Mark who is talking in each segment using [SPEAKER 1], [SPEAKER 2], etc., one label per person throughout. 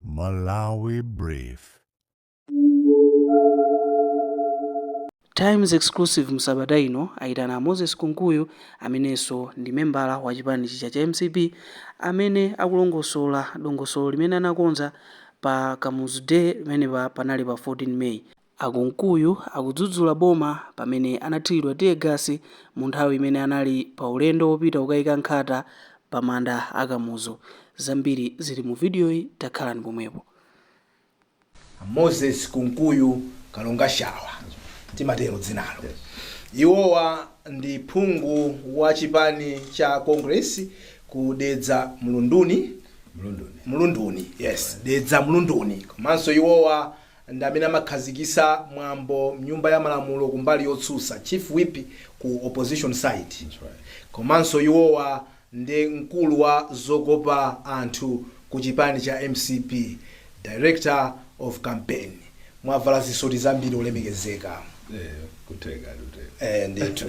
[SPEAKER 1] Malawi
[SPEAKER 2] Brief. Times Exclusive Msabata ino ayitana Moses Kunkuyu amenenso ndi membala wa chipani chija cha MCP amene akulongosola dongosolo limene anakonza pa Kamuzu Day limene panali pa 14 May. A Kunkuyu akudzudzula boma pamene anathiridwa tear gas mu nthawi imene anali pa ulendo wopita kukayika nkhata pa manda a Kamuzu. Zambiri zili mu video yi takhalani pomwepo. A Moses
[SPEAKER 3] Kunkuyu Kalongashawa, timatero dzinalo. Iwowa ndi phungu wa chipani cha Congress ku Dedza Mlunduni, Mlunduni, yes, Dedza Mlunduni komanso iwowa ndi amene amakhazikisa mwambo mnyumba ya malamulo kumbali yotsutsa, chief whip ku opposition side, komanso iwowa ndi mkulu wa zokopa anthu ku chipani cha MCP, director of campaign, mwavala zisoti zambiri olemekezeka. Eya, kutheka, kutheka. Eeh ndithu.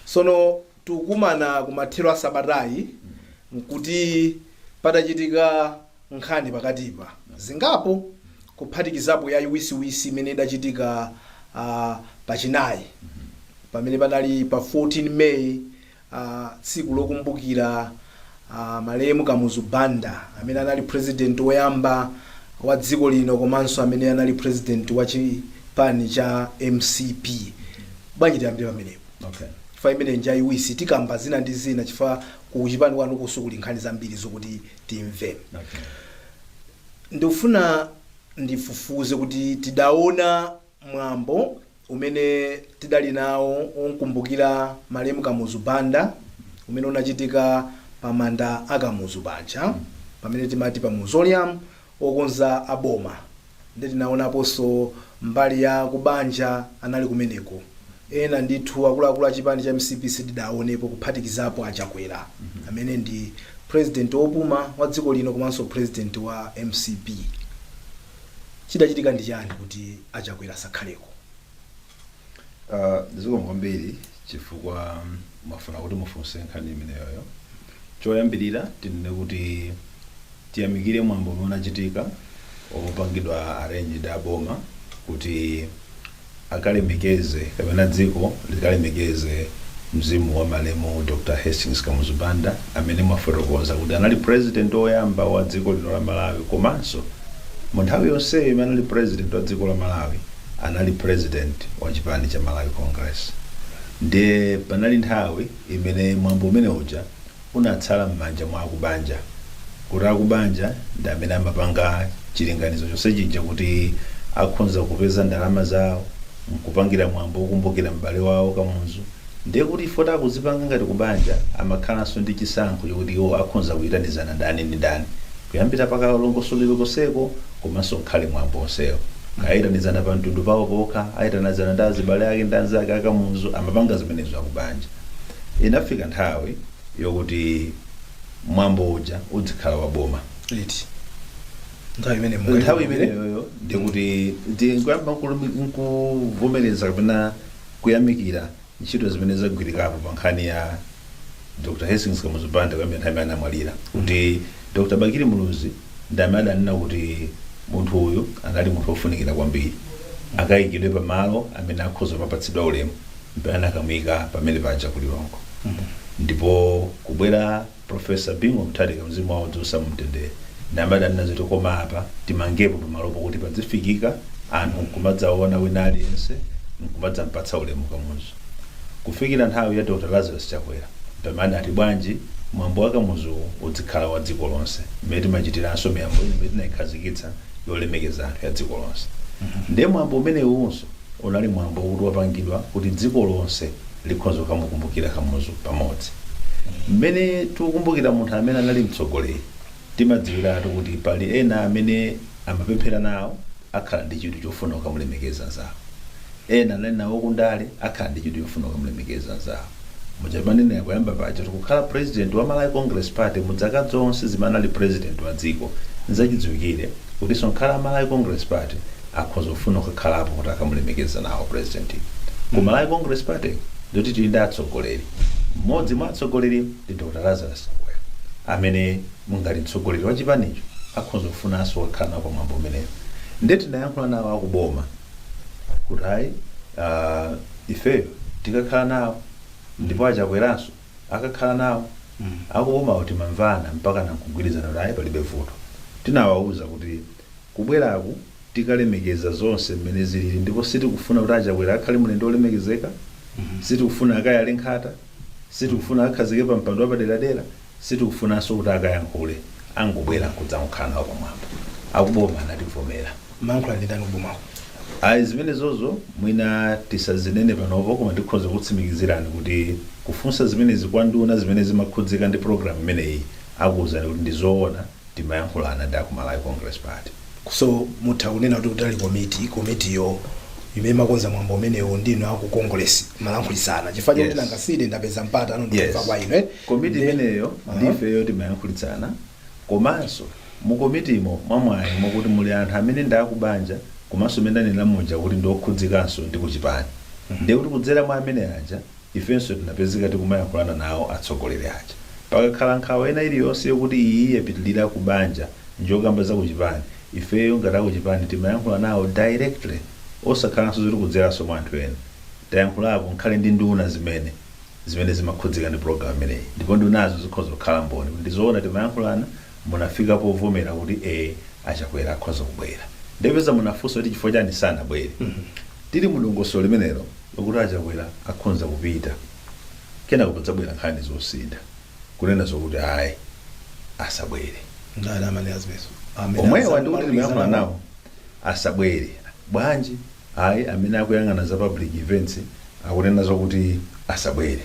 [SPEAKER 3] Sono Tikukumana kumathero a sabatayi nkuti patachitika nkhani pakatipa zingapo kuphatikizapo yaiwisiwisi imene idachitika uh, pa chinayi pamene panali pa 14 May uh, tsiku lokumbukira uh, malemu Kamuzu Banda amene anali president woyamba wa dziko lino komanso amene anali president wa chipani cha MCP. Bwanji tiyambire pamenepo. Okay. chifukwa
[SPEAKER 4] imeneyi
[SPEAKER 3] njaiwisi tikamba zina ndi zina chifukwa kuchipani kwanu konso kuli nkhani zambiri zokuti timve Okay.
[SPEAKER 4] ndikufuna
[SPEAKER 3] ndifufuze kuti tidaona mwambo umene tidali nawo okumbukira malemu Kamuzu Banda umene unachitika pa manda a Kamuzu paja pamene timati pa mausoleum okonza a boma nde tinaonaponso mbali ya kubanja anali kumeneko ena ndithu akuluakulu a chipani cha MCP sitidaonepo kuphatikizapo a Chakwera amene ndi president opuma wa dziko lino komanso president wa MCP chidachitika ndi chani kuti a Chakwera asakhaleko?
[SPEAKER 4] Uh, zikomo kwambiri chifukwa mwafuna kuti mufunse nkhani imeneyoyo choyambirira tinene kuti tiyamikire mwambo umene unachitika opangidwa arrange ndi aboma kuti akalemekeze kapena dziko likalemekeze mzimu wa malemu Dr Hastings Kamuzu Banda amene mwafotokoza kuti anali president oyamba wa dziko lino la Malawi komanso mu nthawi yonseyo imene anali president wa dziko la Malawi anali president wa chipani cha Malawi Congress ndiye panali nthawi imene mwambo umene uja unatsala mmanja mwa akubanja kuti akubanja ndi amene amapanga chilinganizo chonse chija kuti akhonza kupeza ndalama zawo nkupangira mwambo wokumbukira m'bale wawo Kamuzu Ndiye kuti chifukwa choti akuzipanga ngati kubanja amakhalanso ndi chisankho chokuti iwo akhonza kuyitanizana ndani ndi ndani kuyambira pa kalongosoledwe konseko komanso ngakhale mwambo onsewo. Kaya ayitanizana pa mtundu pawo pokha, ayitanizana ndi azibale ake ndi anzake a Kamuzu, amapanga zimenezo akubanja. Inafika nthawi yokuti mwambo uja udzikhala wa boma.
[SPEAKER 3] Liti? Nthawi
[SPEAKER 4] imeneyoyo ndiye kuti ndikuyamba nkuvomereza kapena kuyamikira ntchito zimene zagwirikapo pa nkhani ya Dr. Hastings Kamuzu Banda kuyambira nthawi imene anamwalira kuti Dr. Bakili Muluzi ndi amene adanena kuti munthu uyu anali munthu wofunikira kwambiri akayikidwe pa malo amene akhoza kumapatsidwa ulemu mpaka anakamuika pamene paja ku Lilongwe ndipo kubwera Prof Bingu Mutharika mzimu wawo udziusa mumtendere ndi amene adanena zoti koma apa timangepo pamalopo kuti padzifikika anthu nkumadzaona wina aliyense nkumadzampatsa ulemu Kamuzu kufikira nthawi ya Dr Lazarus Chakwera pamene anati bwanji mwambo wa Kamuzuwu udzikhala wa dziko lonse mmene timachitiranso miyambo ina imene tinaikhazikitsa yolemekeza anthu ya dziko lonse nde mwambo umenewunso Unali mwambo wokuti wapangidwa kuti dziko lonse likhoza kukamukumbukira Kamuzu pamodzi. Mmene tikukumbukira munthu amene anali mtsogoleri, timadziwiratu kuti pali ena amene amapemphera nawo akhala ndi chidwi chofuna kukamulemekeza nzawo. Ena anali nawo kundale akhala ndi chidwi chofuna kukamulemekeza nzawo. muja mwanenera koyamba paja kuti kukhala president wa Malawi Congress Party muzaka zonse zimene anali president wa dziko nzachidziwikire kutinso ngakhale a Malawi Congress Party akhoza kufuna kukakhalapo kuti akamulemekeze nawo president ku Malawi Congress Party ndikuti tili ndi atsogoleri mmodzi mwa atsogoleri ndi Dr. Lazarus Chakwera amene mungati mtsogoleri wa chipanicho akhoza kufunanso kukhala nawo pa mwambo umenewu ndeti tinayankhula nawo akuboma kuti ayi ah, ifeyo tikakhala nawo ndipo a Chakweranso akakhala nawo akubomawo tinamvana mpaka nkugwirizana kuti ayi palibe vuto tinawawuza kuti kubweraku tikalemekeza zonse mmene zilili ndipo sitikufuna kuti a Chakwera akhale mlendo olemekezeka sitikufuna akayale nkhata sitikufuna akakhazikike pa mpando wapaderadera Sitikufunanso kuti akayankhule angobwera nkudzangokhala nawo pamwambo. Akuboma anativomera. Mumayankhula ndi ndani
[SPEAKER 3] kubomako? Ayi, zimenezozo
[SPEAKER 4] mwina tisazinene panopo koma ndikhoza kukutsimikizirani kuti kufunsa zimenezi kwa nduna zimene zimakhudzika ndi pulogalamu imeneyi akuuzani kuti ndi zoona. timayankhulana ndi aku Malawi Congress Party. So
[SPEAKER 3] mutha kunena kuti kutali komiti, komitiyo imene imakonza mwambo umenewu ndi inu aku Congress mumalankhulitsana. Chifukwa choti Yes. nanga sine ndapeza mpata pano ndikumva Yes. kwa inu. eh? komiti Ndi-
[SPEAKER 4] imeneyo Aha. ndi ifeyo timayankhulitsana komanso mu komitimo mwamwayi mokuti muli anthu amene ndi akubanja komanso amene anena muja kuti ndi okhudzikanso ndi kuchipani ndiye kuti kudzera mwa amene aja Ifenso tinapezeka tikumayankhulana nawo atsogoleri aja. Pakakhala nkhawa ina iliyonse yokuti iyi yapitilira ku banja njokamba za kuchipani, ifeyo ngati akuchipani timayankhula nawo directly osakhalanso zoti kudzeranso mwa anthu ena. Tayankhulapo ngakhale ndi nduna zimene zimene zimakhudzika ndi program imeneyi ndipo ndunazo zikhoza kukhala mboni kuti ndizoona timayankhulana munafika povomera kuti e a Chakwera akhoza kubwera nde popeza munafunsa kuti chifukwa chani sanabwere tili mudongosolo limenelo lokuti a Chakwera akhonza kupita kenako padzabwera nkhani zosintha kunena zokuti ayi asabwere ndani
[SPEAKER 3] amene anzimetu omwewa ndi
[SPEAKER 4] kuti timayankhula nawo asabwere bwanji ayi amene akuyang'ana za public events akunena zokuti asabwere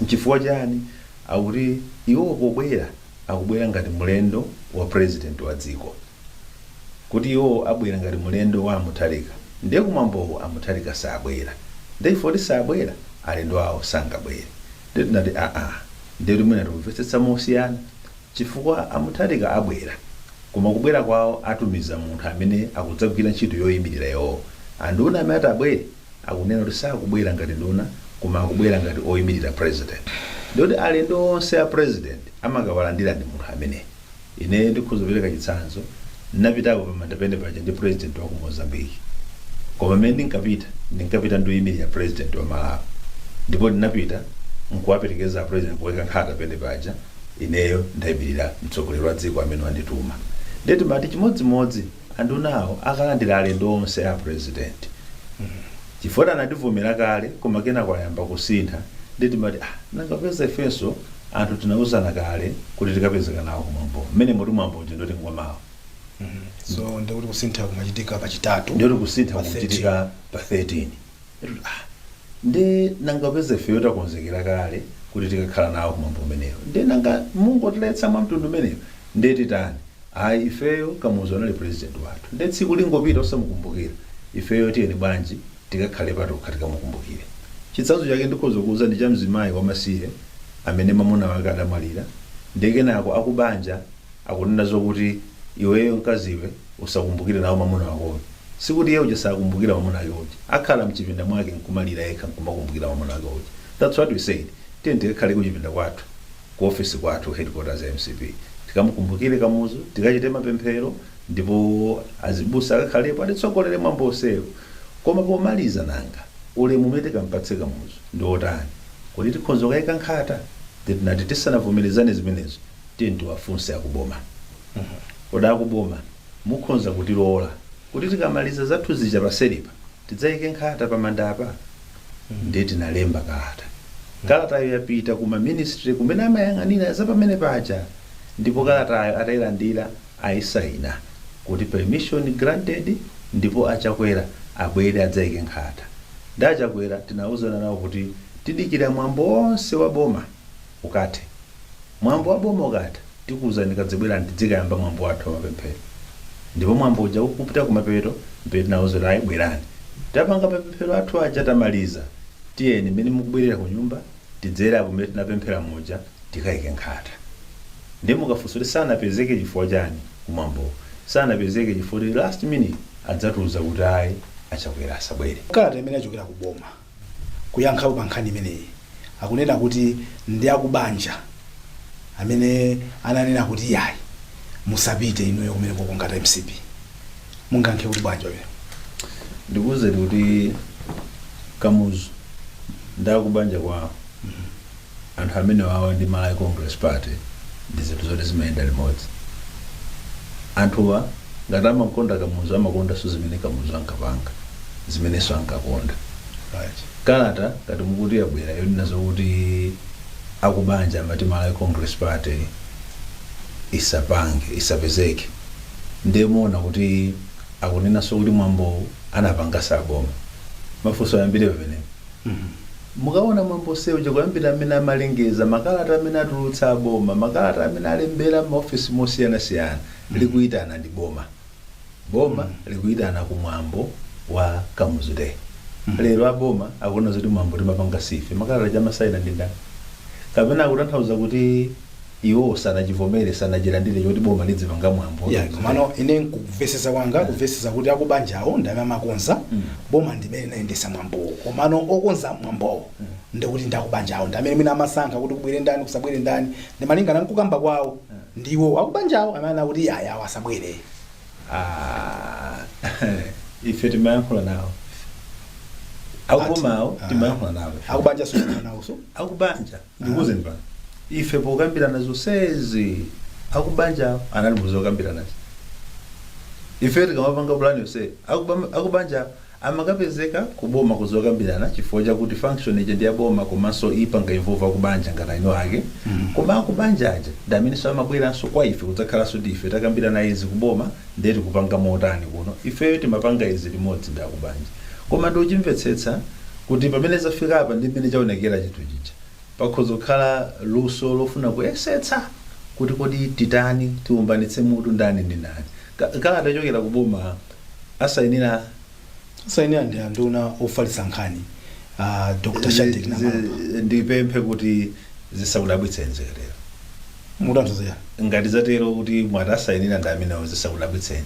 [SPEAKER 4] nchifukwa chani akuti iwo pobwera akubwera ngati mulendo wa president wa dziko kuti iwo abwera ngati mulendo wa a Mutharika ndiye kumwambowu a Mutharika sabwera ndiye chifukwa kuti sabwera alendo awo sangabwere ndiye tinati aa ndiye kuti mwina tikumvetsetsa mosiyana chifukwa a Mutharika abwera koma kubwera kwawo atumiza munthu amene akudzagwira ntchito yoyimirira iwowo anduna amene ati abwere Akunena kuti sakubwera ngati nduna koma akubwera ngati oimilira president. Ndiyekuti alendo onse a president amakawalandirira ndi munthu ameneyi. Ine ndikhoza kupereka chitsanzo, ndinapitako pa Mandapente paja ndi president wa ku Mozambique. Koma mmene ndinkapita, ndinkapita ndioimilira president wa Malawi. Ndipo ndinapita nkuwaperekeza a president kukaika nkhata pamenepaja, ineyo ndaimilira mtsogoleri wa dziko amene wandituma. Ndiye timati chimodzimodzi. Andunawo akalandira alendo onse a president chifukwa choti anativomera kale koma kenako kwayamba kusintha nde timati ah nanga popeza ifenso anthu tinauzana kale kuti tikapezeka nawo kumwambowo mmenemotu mwambo uja ndoti ngwamawa so
[SPEAKER 3] ndikuti kusintha kumachitika pachitatu ndiye kuti kusintha pa 13. kukuchitika
[SPEAKER 4] pa 13 Petulo, Ah! Nde nanga popeza ifeyo takonzekera kale kuti tikakhala nawo kumwambo umenewu, nde nanga mungotiletsa mwamtundu umenewu nde titani? Ayi ifeyo, Kamuzu anali president wathu nde tsiku lingopita osamukumbukira, ifeyo tiyeni bwanji tikakhale patokha tikamukumbukire. Chitsanzo chake ndikhoza kukuuzani cha mzimayi wamasiye amene mamuna wake adamwalira nde kenako akubanja akunena zokuti iweyo mkaziwe usakumbukire nawo mamuna wakoyo. Sikuti iye uja sakumbukira mamuna ake uja. Akhala mchipinda mwake nkumalira yekha nkumakumbukira mamuna ake uja. That's what we said. Tiyeni tikakhale kuchipinda kwathu, ku office kwathu, headquarters ya mcp. Tikamukumbukire Kamuzu, tikachite mapemphero ndipo azibusa akakhalepo atitsogolere mwambo onsewo. Koma pomaliza nanga, ulemu umene tikampatse Kamuzu ndi otani? Kuti tikhonza kukaika nkhata? Ndiye tinati tisanavomerezane zimenezo, tiyeni tiwafunse akuboma. Kodi akuboma? Mukhonza kutilola kuti tikamaliza zathu zija paseripa tidzaike nkhata pamanda apa? Ndiye tinalemba kalata. Kalatayo yapita ku ma ministry kumene amayang'anira za pamene paja ndipo kalatayo atailandira aisaina kuti permission granted ndipo a Chakwera abwere adzaike nkhata. Ndi a Chakwera tinauzana nawo kuti tidikira mwambo onse wa boma. ukathe. Mwambo wa boma ukatha, tikuuzani kadzibwerani tidzikayamba mwambo wathu wa mapemphero. Ndipo mwambo uja ukupita kumapeto, m'pamene tinauzana kuti ayi bwerani. Tapanga mapemphero athu aja tamaliza. Tiyeni m'mene mukubwerera kunyumba, tidzere apo m'mene tinapemphela muja tikaike nkhata. Ndiye mukafunsa kuti sanapezeke chifukwa chani kumwambowo? Sanapezeke chifukwa kuti last minute adzatiuza kuti ayi a Chakwera asabwere. Kalata imene yachokera ku
[SPEAKER 3] boma. kuyankhapo pa nkhani imeneyi akunena kuti ndi akubanja amene ananena kuti iyayi musapite inuyo kumene kokongata mcp mungankhe kuti bwanji pamene
[SPEAKER 4] ndikuwuzani kuti kamuzu ndi akubanja kwawo anthu amenewawa ndi Malawi Congress Party ndi zinthu zoti zimayenda limodzi. Anthuwa ngati amakonda Kamuzu amakondanso zimene Kamuzu ankapanga, zimenenso ankakonda. Right. Kalata ngati mukuti yabwera yonena zokuti akubanja amati Malawi Congress Party isapange isapezeke ndiye mmaona kuti akunenanso kuti mwambowu anapanga saboma. Mafunso ayambire pamenepo. Mukaona mwambo onse uja kuyambira amene amalengeza, makalata amene atulutsa a boma, makalata amene alembera maofisi mosiyana siyana, likuitana ndi boma. Boma likuitana ku mwambo wa Kamuzu day. Lero a boma akunena zoti mwambo timapanga siife, makalata aja amasaina ndi ndani? Kapena akutanthauza kuti. Iwo sanachivomere, sanachilandire choti boma lidzipanga mwambo. Yeah, komano
[SPEAKER 3] ine nkuvesesa kwanga kuvesesa kuti akubanjawo ndi amene amakonza boma ndi imene linayendesa mwambowo komano okonza mwambowo ndikuti ndi akubanjawo ndi amene mwina amasankha kuti kubwere ndani kusabwere ndani ndi malingana nkukamba kwawo ndiwo akubanjawo amene akuti yayi awo asabwere Ah,
[SPEAKER 4] ife timayankhula nawo akubomawo timayankhula nawo akubanjaso nawoso
[SPEAKER 3] akubanja
[SPEAKER 4] ndikuuzeni pano ife pokambirana zonsezi akubanja anali muzokambiranazi ife tikamapanga pulani yonse akuba- akubanja amakapezeka kuboma kuzokambirana chifukwa chakuti function ija ndi yaboma komanso ipanga involve akubanja ngati eni ake koma akubanja aja ndi amenenso amabweranso kwa ife kudzakhalanso ndi ife takambirana izi kuboma ndiye tikupanga motani kuno ifeyo timapanga izi limodzi ndi akubanja koma ndikuchimvetsetsa kuti pamene zafika apa ndi mmene chaonekera chinthu chija, pakhoza kukhala luso lofuna kuyesetsa kuti kodi titani, tiumbanitse mutu ndani ndi ndani. Ka- Kalata yochokera ku boma asainira
[SPEAKER 3] sainira ndi anduna ofalitsa nkhani ah, dr Shadric Namalomba zi-
[SPEAKER 4] ndipemphe kuti zisakudabwitseni zikatero mutanthauzira
[SPEAKER 3] ngati zatero
[SPEAKER 4] kuti mwati asainira ndi amenewo zisakudabwitseni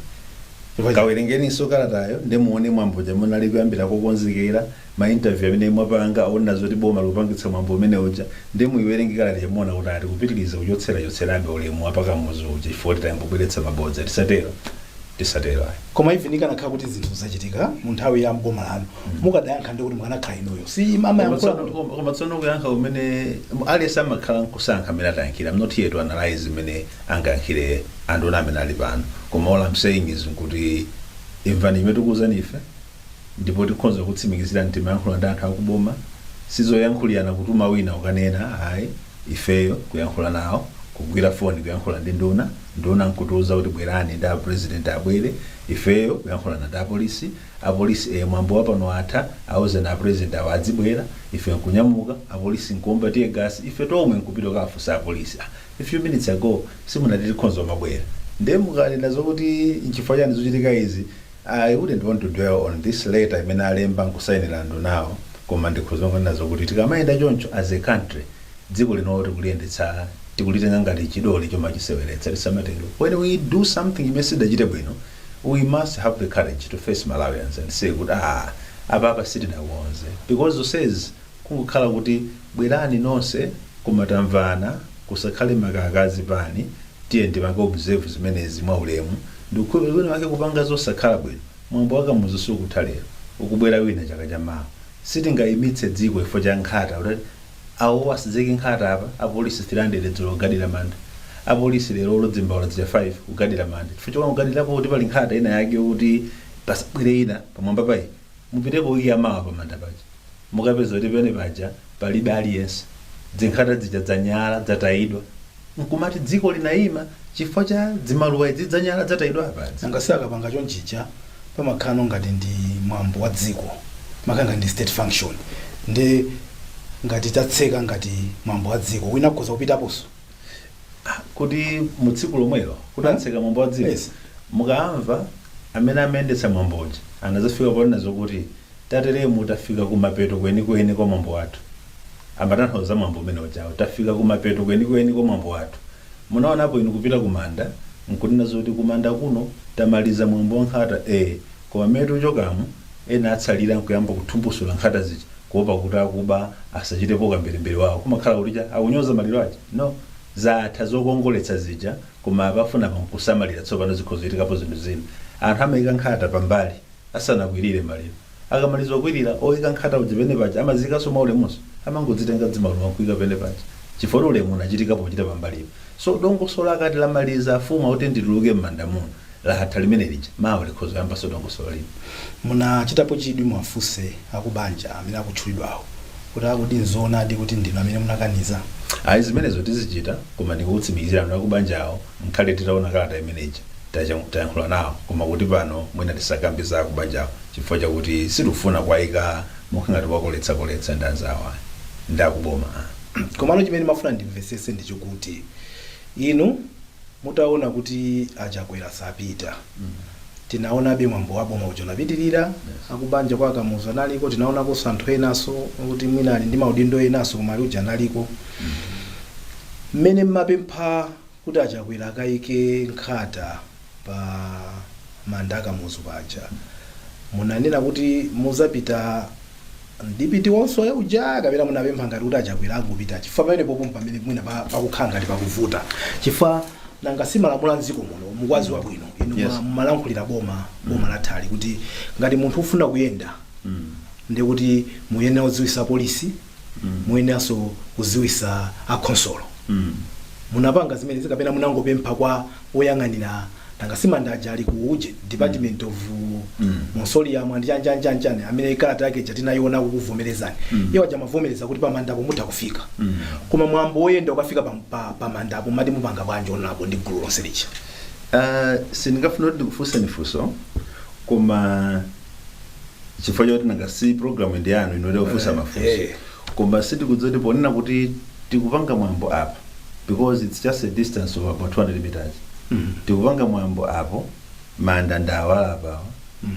[SPEAKER 4] Chifukwa Kawerengeninso kalatayo nde muone mwambo uja mmene unali kuyambira kokonzekera, ma interview amene mwapanga onena zoti boma likupangitsa mwambo umene uja nde muiwerenge kalata ija muona kuti ah tikupitiliza kuchotserachotserabe ulemu wa pa Kamuzu uja chifukwa kuti tayamba kubweretsa mabodza. Tisatero. Tisatero
[SPEAKER 3] ayi. Koma even ikanakhala kuti zinthu zachitika mu nthawi ya m'boma lanu mukadayankha ndi kuti mukanakhala inuyo. Si Koma amayankhula tsono- kuti koma- koma tsono kuyankha
[SPEAKER 4] kumene aliyense amakhala nkusankha mmene atayankhire. I'm not here to analyze mmene angayankhire anduna amene ali pano koma all I'm saying is nkuti imvani chimene tikuwuzani ife ndipo tikhonza kutsimikizirani timayankhula ndi anthu akuboma sizoyankhulirana kutuma wina ukanena ayi ifeyo kuyankhula nawo kugwira foni kuyankhula ndi nduna nduna nkutiwuza kuti bwerani ndi apresident abwere ifeyo kuyankhulana ndi apolisi apolisi e mwambo wapano watha awuzeni apresident awo adzibwera ife nkunyamuka apolisi nkuomba tear gas ife tomwe nkupita kafunsa apolisi ah, a few minutes ago simunati tikhonza kumabwera nde mukanena zokuti nchifukwa chani zuchitika izi I wouldn't want to dwell on this letter imene alemba nkusainira andunawo koma ndikhoza kungonena zokuti tikamayenda choncho as a country dziko lino tikuliyendetsa tikulitenga ngati chidole chomachiseweretsa tisamatero when we do something imene sitidachite bwino we must have the courage to face Malawians and say kuti ah apapa sitidakonze because zonsezi kungokhala kuti bwerani nonse koma tamvana kusakhale makaka azipani tiyeni tipange observe zimenezi mwaulemu ndikukhulupirira kuti wina wake akupanga zosakhala bwino mwambo wa kamuzu sukutha lero ukubwera wina chaka cha mawa sitingayimitse dziko chifukwa cha nkhata kuti awowa asadzaike nkhata apa apolisi 300 dzulo kugadira manda apolisi lero olo dzimbaula dzija 5 kugadira manda chifukwa chokugadirapo kuti pali nkhata ina yake yokuti pasabwere ina pamwamba pa iyi Mupitepo ikiya mawa pamanda paja, mukapeza kuti pene paja palibe aliyense, dzinkhata dzija dzanyala, dzatayidwa, nkumati dziko linaima chifukwa cha dzimaluwa idzi, dzanyala, dzatayidwa apa dzi. Nanga si akapanga
[SPEAKER 3] chonchija pamakhala ngati ndi mwambo wa dziko, makhala ngati ndi state function, nde ngati tatseka ngati mwambo wa dziko, wina akhoza kupitaponso?
[SPEAKER 4] kuti mu tsiku lomwelo kuti tatseka mwambo wa dziko Yes. mukamva amene amayendetsa mwambo uja akazafika ponena zokuti tateremu tafika kumapeto kwenikweni kwa mwambo wathu amatanthauza mwambo umene ujawo tafika kumapeto kwenikweni kwa mwambo wathu munaonapo inu kupita kumanda nkunena zoti kumanda kuno tamaliza mwambo wa nkhata e Koma mmene tikuchokamo, ena atsalira nkuyamba kuthumbusula nkhata zija kuopa kuti akuba asachitepo ukamberembere wawo. Kumakhala kuti akunyoza maliro aja? No. Zatha zokongoletsa zija koma apa afuna apa nkusamalira tsopano zikhoza kuchitikapo zinthu zina. Anthu amaika nkhata pambali asanakwirire maliro. Akamaliza kukwirira, oika nkhata uja pamene paja amaziikaso mwaulemunso? Amangodzitenga dzimaluwa nkuika pamene paja chifukwa kuti ulemu unachitikapo kuchita pambalipo. So dongosolo akati lamaliza afuna kuti ndituluke mmanda muno, Latha limene lija mawa likhoza kuyambanso dongosolo lina.
[SPEAKER 3] Munachitapo chidwi kuwafunsa akubanja amene akutchulidwawo kuti a kodi nzoonadi kuti ndinu amene munakaniza? Ayi zimenezo
[SPEAKER 4] tizichita koma ndikukutsimikizirani kuti akubanjawo nkhale titaona kalata imene ija tayankhula nawo koma kuti pano mwina tisakambe za akubanjawo chifukwa chakuti sitikufuna kuwaika mokhala ngati kuwakolezakoleza ndi anzawo ayi ndi akuboma ayi. Komano
[SPEAKER 3] chimene ndimafuna ndimvetsetse ndi chokuti inu. Mutaona kuti a Chakwera sapita, tinaonabe mwambo wa boma uja unapitilira, akubanja kwa a Kamuzu analiko, tinaonakonso anthu enaso oti mwina ali ndi maudindo enaso koma ali uja analiko. Mmene mmapempha kuti a Chakwera akaike nkhata pa manda a Kamuzu paja, munanena kuti muzapita. ndi party yonse ija kapena munapempha ngati kuti achakwera angopita chifukwa pamene popo pamene mwina pa- pakukhala ngati pakuvuta chifukwa nanga si malamulo a mdziko muno mukwaziwa bwino inu Yes. ma- mumalankhulira boma boma lathalo kuti ngati munthu ufuna kuyenda ndikuti muyenera kudziwisa polisi muyeneranso kudziwisa akhonsolo munapanga zimenezi kapena munangopempha kwa oyang'anira nanga si manda aja ali ku uje department of mausoleum and chani chani chani chani amene kalata yake ija tinayiona kukuvomerezani iwo aja amavomereza kuti pamandapo mutha kufika koma mwambo woyenda ukafika pa- pa- pamandapo mati mupanga bwanji konko ndi gulu lonse lija
[SPEAKER 4] Ah, sindingafuna kuti ndikufunseni funso koma chifukwa choti nanga si programu ndi yanu ino yofunsa Eh, mafunso eh. koma sindikudziwa kuti ponena kuti tikupanga mwambo apa because it's just a distance of about 200 meters tikupanga mwambo apo manda ndawa apawa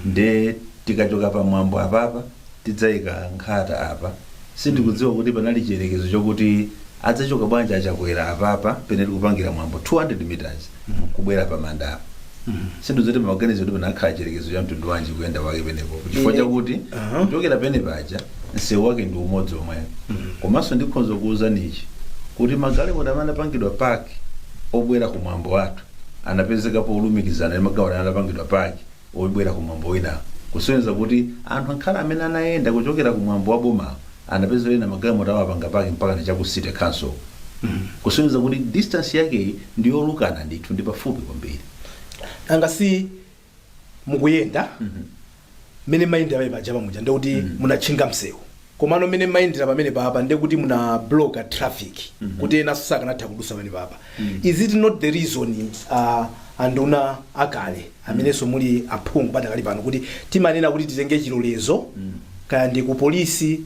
[SPEAKER 4] nde tikachoka pa mwambo apapa tidzayika nkhata apa sindikudziwa kuti panali chiyerekezo chokuti adzachoka bwanji achakwera apapa pene tikupangira mwambo 200 meters kubwera pa manda apa sinthu zoti pamaganizo kuti panakhala chiyerekezo cha mtundu wanji kuyenda kwake penepo chifukwa Ine- chakuti Aha. kuchokera pene paja msewu wake ndi umodzi omwe komanso ndikhonza kuwuzani ichi kuti magalimoto amene anapangidwa paki obwera ku mwambo wathu anapezeka polumikizana ndi magalimoto amene anapangidwa paki obwera ku mwambo winawo kusonyeza kuti anthu angakhale amene anayenda kuchokera ku mwambo wa bomawo anapeza ena magalimoto amapanga paki mpakana cha ku city council kusonyeza kuti distance yakeyi ndi yolukana ndithu ndi pafupi kwambiri nanga si
[SPEAKER 3] mukuyenda mmene mayendera pamene paja pamuja ndekuti munatchinga msewu komano mmene mayendera pamene papa ndekuti muna bloka traffic kuti enanso sakanatha kudusa pamene papa is it not the reason uh, anduna akale amenenso muli aphungu padakali pano kuti timanena kuti titenge chilolezo kaya ndi ku polisi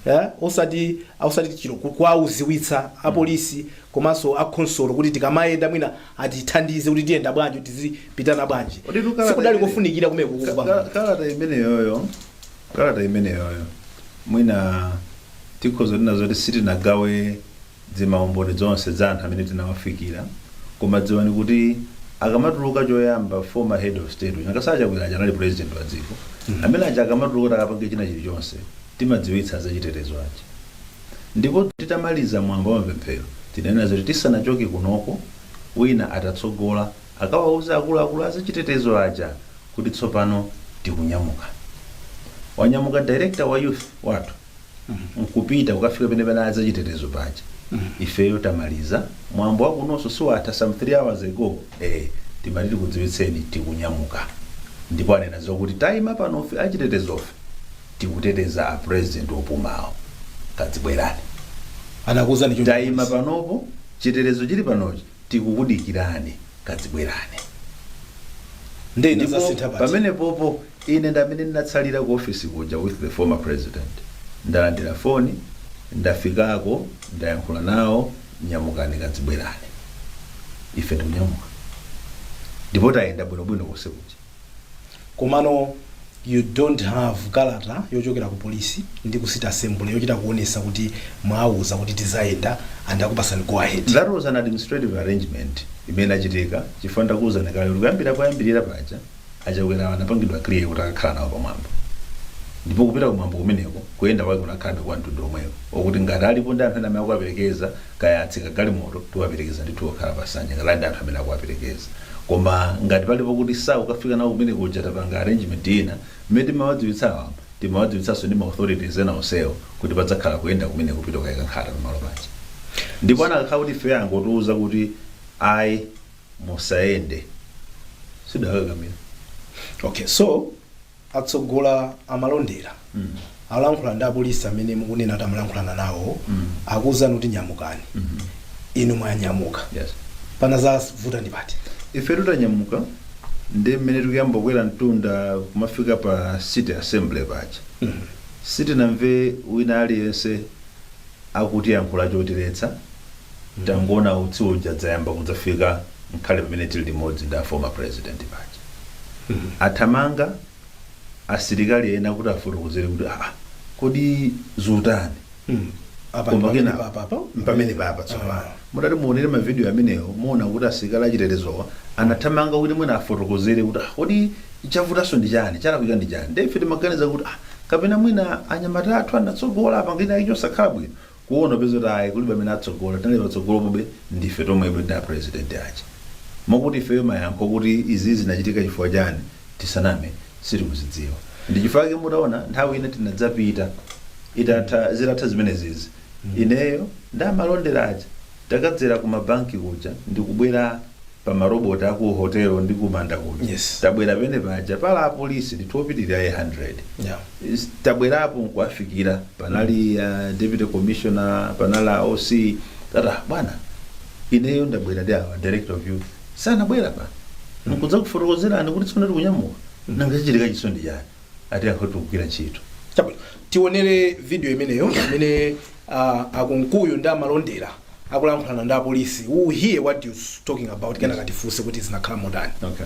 [SPEAKER 3] eh, osati osati chilo ku- kuwauziwitsa apolisi komanso akhonsolo kuti tikamayenda mwina atithandize kuti tiyenda bwanji kuti tizipitana bwanji sikudali kofunikira kumene Ka- kukupa ka- kalata imeneyoyo
[SPEAKER 4] kalata imeneyoyo mwina tikhoza tinena zoti sitinagawe zimaumboni zonse za anthu amene tinawafikira koma dziwani kuti akamatuluka choyamba former head of state uja ngakhale achakwera aja anali president wa dziko amene aja akamatuluka kuti akapange china chilichonse timadziwitsa zachitetezo aja ndipo titamaliza mwambo wa mapemphero tinanena zoti tisanachoke kunoko wina atatsogola akawauza akuluakulu azachitetezo aja kuti tsopano tikunyamuka wanyamuka director wa youth wathu nkupita kukafika pene panali achitetezo paja ifeyo tamaliza mwambo wakunonso si watha some 3 hours ago eh, timati tikudziwitseni tikunyamuka ndipo anena zokuti tayima panofe achitetezofe tikuteteza a president opumawo kazibwerani
[SPEAKER 3] anakuuzani choncho tayima panopo
[SPEAKER 4] chitetezo chili panochi tikukudikirani kazibwerani
[SPEAKER 3] nde ndipo Ndazasintha pati. pamene popo
[SPEAKER 4] ine ndamene ndinatsalira ku office kuja with the former president ndalandira foni ndafikako ndayankhula nawo nyamukani kazibwerani ife tikunyamuka ndipo tayenda bwinobwino konse kuja
[SPEAKER 3] komano you dont have kalata yochokera ku polisi ndi ku city assembly yochita kuonesa kuti mwauza kuti tizayenda and akupasani go ahead that was an administrative
[SPEAKER 4] arrangement imene achitika chifukwa ndakuwuzani kale kuti kuyambira koyambirira paja achakwera anapangidwa clear kuti akakhale nawo pamwambo ndipo kupita kumwambo kumeneko kuyenda kwake kunakhalabe kwa mtundu omwewo okuti ngati alipo ndi anthu ena amene akuwaperekeza kaya atsika galimoto tiwaperekeza ndithu okhala pasanja ngati ali ndi anthu amene akuwaperekeza koma ngati palipo kuti saukafika nawo kumene kuja tapanga arrangement ina mmene timawadziwitsa awa timawadziwitsanso ndi ma authorities ena onsewo kuti padzakhala kuyenda kumene kupita kukayika nkhata pamalo paja ndipo anakakhala kuti ife angotiuza kuti ayi musayende sitidakakamira
[SPEAKER 3] okay so atsogolo amalondera alankhula ndi apolisi amene mukunena kuti amalankhulana nawo akuwuzani kuti nyamukani inu mwanyamuka Yes.
[SPEAKER 4] panadzavuta
[SPEAKER 3] ndi pati ife
[SPEAKER 4] tutanyamuka ndi mmene tikuyamba kukwera mtunda kumafika pa city assembly paja sitinamve wina aliyense akutiyankhula chotiletsa Tangoona utsi uja wadzayamba kudzafika nkhale pamene tili limodzi ndi a former president paja. Athamanga asilikali ena kuti afotokozere kuti aa kodi zatani? Apa Koma pamene kena- papa apa. mpamene papa tsopano mutati muonere mavidiyo amenewo muona kuti asilikali achitetezowa anathamanga kuti mwina afotokozere kuti ah, kodi chavutanso ndi chani chalakwika ndi chani nde ife timaganiza kuti ah, kapena mwina anyamata athu anatsogola apanga china chake chosakhala bwino kuona kupeza kuti ayi kulibe amene watsogola tinali patsogolopobe ndife tomwebe ndi a president aja mokuti ifeyo mayankho kuti izi zinachitika chifukwa chani tisaname sitikuzidziwa ndi chifukwa chake mutaona nthawi ina tinadzapita itatha zitatha zimenezizi ineyo ndi amalondera aja takadzera ku mabanki kuja ndikubwera pa ma robot aku hotel ndi ku manda kuja Yes. tabwera pamene paja pali apolisi ndithu opitirira 100 Yeah. Is- tabwerapo nkuafikira panali uh, deputy commissioner panali a oc tati bwana ineyo ndabwera ndi awa director of youth sanabwere apa nkudzakufotokozerani kuti tsopano tikunyamuka nanga chachitika ichiso ndi chani ati anthu tikugwira ntchito Chabwino. tionere
[SPEAKER 3] video imeneyo imene uh, a Kunkuyu ndi amalondera akulankhulana ndi apolisi we hear what they're talking about kenaka tifunse kuti zinakhala
[SPEAKER 5] motani okay.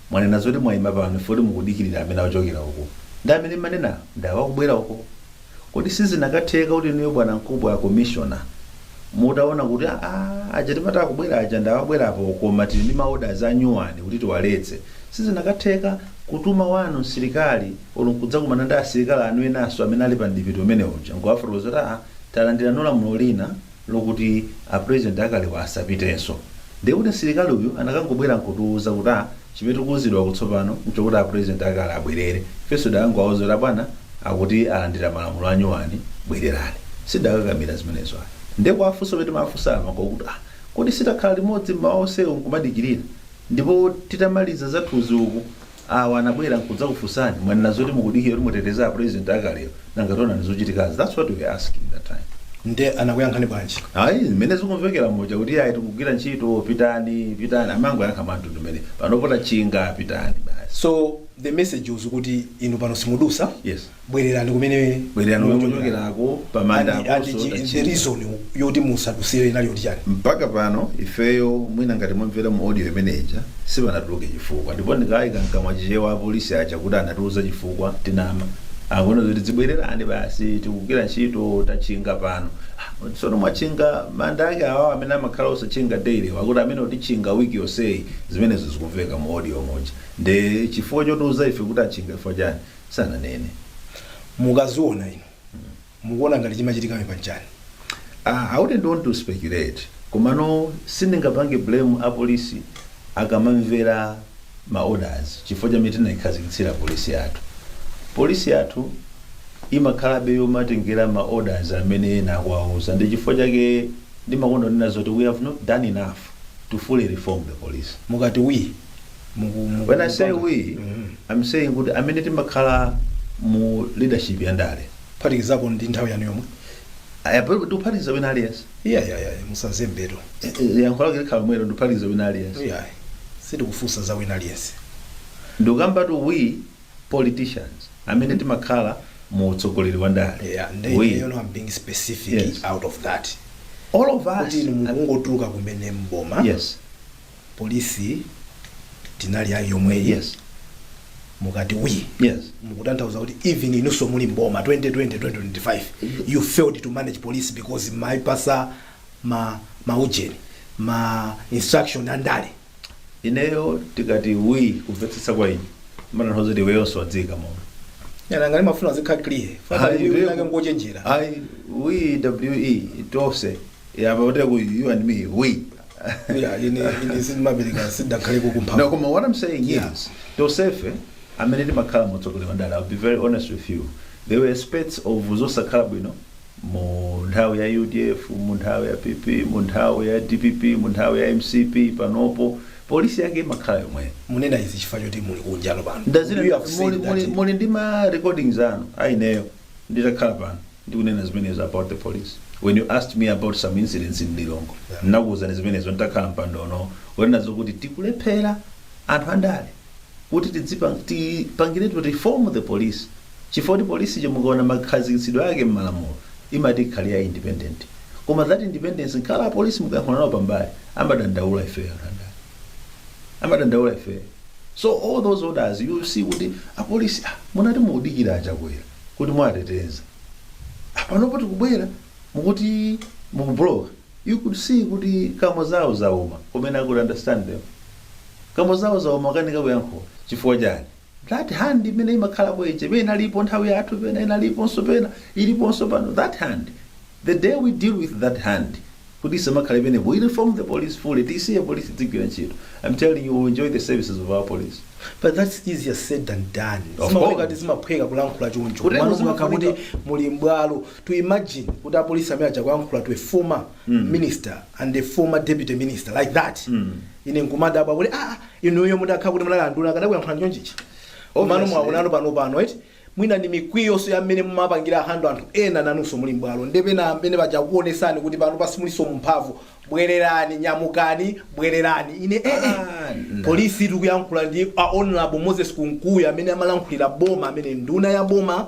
[SPEAKER 4] Mwanena zoti mwaima pano chifukwa choti mukudikirira amene achokera uko. Ndi amene mmanena ndi awa akubwera uko. Kodi sizinakatheka kuti inuyo bwanamkubwa, commissioner, mutaona kuti aah aja timati akubwera aja ndi awa abwerapo koma tili ndi ma orders anyuwani kuti tiwaletse. Sizinakatheka kutuma wanu msilikali or nkudzakumana ndi asilikali anu enanso amene ali pa mdipiti umenewu uja nkuwafotokozera kuti aah talandiranso lamulo lina. lokuti a president akalewo asapitenso ndiye kuti msilikali uyu anakangobwera nkutiuza kuti ah chimene tikuuzidwa kutsopano nchokuti a president akale abwerere ifenso tidakangowauza abwana akuti alandira malamulo anyuwani bwererani sitidakakamira zimenezo ayi ndiye kuwafunsa kuti timafunsa nawo kuti ah kodi sitakhala limodzi mmawa onsewo nkumadikirira ndipo titamaliza zathuzi uku anabwera nkudzakufunsani mwanena zoti mukudikira kuti muteteze a president akalewa nanga taonani zikuchitikazi that's what we were asking that time. nde anakuyankhani
[SPEAKER 3] bwanji? Ayi mmene zikumvekera
[SPEAKER 4] muja kuti ayi tikugwira ntchito pitani pitani amangoyankha mwamtundu umene panopo tachinga pitani basi. so the
[SPEAKER 3] message was kuti inu pano simudusa? Yes.
[SPEAKER 4] bwererani
[SPEAKER 3] kumene bwererani kumene
[SPEAKER 4] muchokerako pamanda And- and aponso chi- the
[SPEAKER 3] tachimwa. reason yoti musadusire inali yoti chani mpaka
[SPEAKER 4] pano ifeyo mwina ngati mwamvera mu audio imeneja sipanatuluke chifukwa ndipo ndiwayika mkamwa chichewa apolisi aja kuti anatiuza chifukwa ndinama akunena kuti zibwererani basi tikugwira ntchito tachinga pano Ah, tsono mwachinga manda ake awawo amene amakhala osachinga daily wakuti amene mutichinga wiki yonseyi zimenezo zikumveka mu audio muja nde chifukwa chotiuza ife kuti achinga chifukwa chani
[SPEAKER 3] sananene mukaziona inu mukuona ngati chimachitika apa nchani Ah,
[SPEAKER 4] I wouldn't want to speculate komano sindingapange blame apolisi akamamvera ma orders chifukwa cha mmene tinaikhazikitsira polisi yathu polisi yathu imakhalabe yomatengera ma orders amene ena akuwauza ndi chifukwa chake ndimakonda kunena zoti we have not done enough to fully reform the police mukati we
[SPEAKER 3] muku- muku-
[SPEAKER 4] when i say we Mhm. i'm saying kuti amene
[SPEAKER 3] timakhala mu
[SPEAKER 4] leadership ya ndale kuphatikizapo
[SPEAKER 3] ndi
[SPEAKER 4] nthawi yanu yomwe ayapalibe tikuphatikiza wina aliyense iya iya iya musazembetu
[SPEAKER 3] Eh, eh, yankho
[SPEAKER 4] lake likhala mmenemo ndikuphatikiza wina aliyense iya
[SPEAKER 3] sitikufunsa za wina aliyense
[SPEAKER 4] ndikukambatu we politicians amene timakhala mu utsogoleri wa ndale yeah and we you know i'm being
[SPEAKER 3] specific Yes. out of that all of us
[SPEAKER 4] kuti inu mukungotuluka
[SPEAKER 3] kumene mboma yes police tinali nayo yomweyi yes mukati we yes mukutanthauza kuti even inunso muli mboma 2020 2025 you failed to manage police because mumaipatsa maujeni ma instruction andale
[SPEAKER 4] ineyo ndikati we kumvetsetsa kwa ine zimatanthauza kuti iweyonso wadziika momo iya nanga ndimafuna
[SPEAKER 3] adzikhala clear Ayi, ndiye- fanake ngochenjera i we
[SPEAKER 4] we tonse yamba kuti you and me we Yeah, ine ine sindimapereka sindidakhale No, kukumphapo. koma what I'm saying Yeah. is, tonsefe amene timakhala mu utsogoleri wa ndale, I'll be very honest with you, there were aspects of zosakhala bwino mu nthawi ya UDF, mu nthawi ya PP, mu nthawi ya DPP, mu nthawi ya MCP, panopo polisi yake imakhala yomweyo. Mukunena izi chifukwa choti
[SPEAKER 3] muli kunjalo pano. Ndazina You have said muli that- muli
[SPEAKER 4] muli ndi ma recordings anu a ineyo. nditakhala pano ndikunena zimenezo about the police when you asked me about some incidents in lilongwe nakuwuzani zimenezo nditakhala mpando uno kunena zokuti tikulephera anthu andale kuti tidzipang- tipangiretu reform the police chifukwa kuti polisi cho mukaona makhazikitsidwe ake m'malamulo imati ikhale ya independent koma that independence nkhala apolisi mukayankhula nawo pambali amadandaula ifeyo anthu andale amadandaula ife so all those orders you see kuti apolisi ah, munati mukudikira achakwera kuti muwateteza Ah, panopo tikubwera mukuti mukubloka you could see kuti kamo zawo zauma kumene i could understand them kamo zawo zauma akukanika kuyankhula chifukwa chani That hand imene imakhalapo ija pena inalipo nthawi yathu pena inaliponso pena iliponso pano that hand the day we deal with that hand kuti isamakhale penepo we reform the police fully tisiye police idzigwira ntchito I'm telling you we will enjoy the services of our police But that's
[SPEAKER 3] easier said than done. Of Zimaoneka course. kuti zimaphweka kulankhula choncho. Kutero Mwana zimafunika. mukakha kuti muli mbwalo. To imagine kuti apolisi amene aja kulankhula to a former minister and a former deputy minister like that. Ine nkumadabwa kuti ah ah, inuyo mutakha kuti munali anduna akadakuyankhulani chonchichi komano mwakunanu panopano eti mwina ndi mikwiyonso ya mmene mumapangira handle anthu ena nanunso muli mbwalo ndi pena amene paja akuonesani kuti panopa simulinso mumphamvu bwererani nyamukani bwererani ine ee Ah, na. polisi tikuyankhula ndi a honorable moses kunkuyu amene amalankhulira boma amene nduna ya boma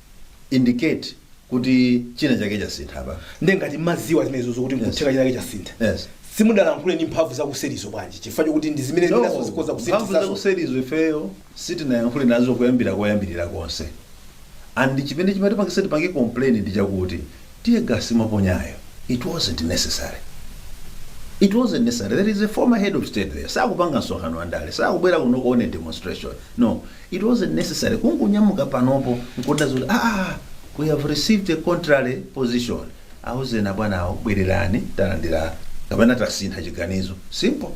[SPEAKER 4] indicate kuti china chake chasintha apa nde ngati
[SPEAKER 3] mmaziwa zimenezo zokuti Yes. nkutheka chinake chasintha Yes. simudalankhule
[SPEAKER 4] ndi mphamvu
[SPEAKER 3] zakuserizo bwanji chifukwa chokuti ndi zimene No, zinazo zikhoza mphamvu kusinthitsazo zakuserizo
[SPEAKER 4] ifeyo sitinayankhule nazo kuyambira koyambirira konse and chimene chimatipangisa tipange complain ndi chakuti Tear gas mwaponyayo it wasn't necessary. It wasn't necessary. There is a former head of state there. Sakupanga msonkhano wa ndale. Sakubwera kuno kuone demonstration. No, it wasn't necessary. Kungonyamuka panopo nkuda zoti ah, ah, we have received a contrary position. Auzeni abwanawo bwererani talandira kapena tasintha chiganizo. Simple.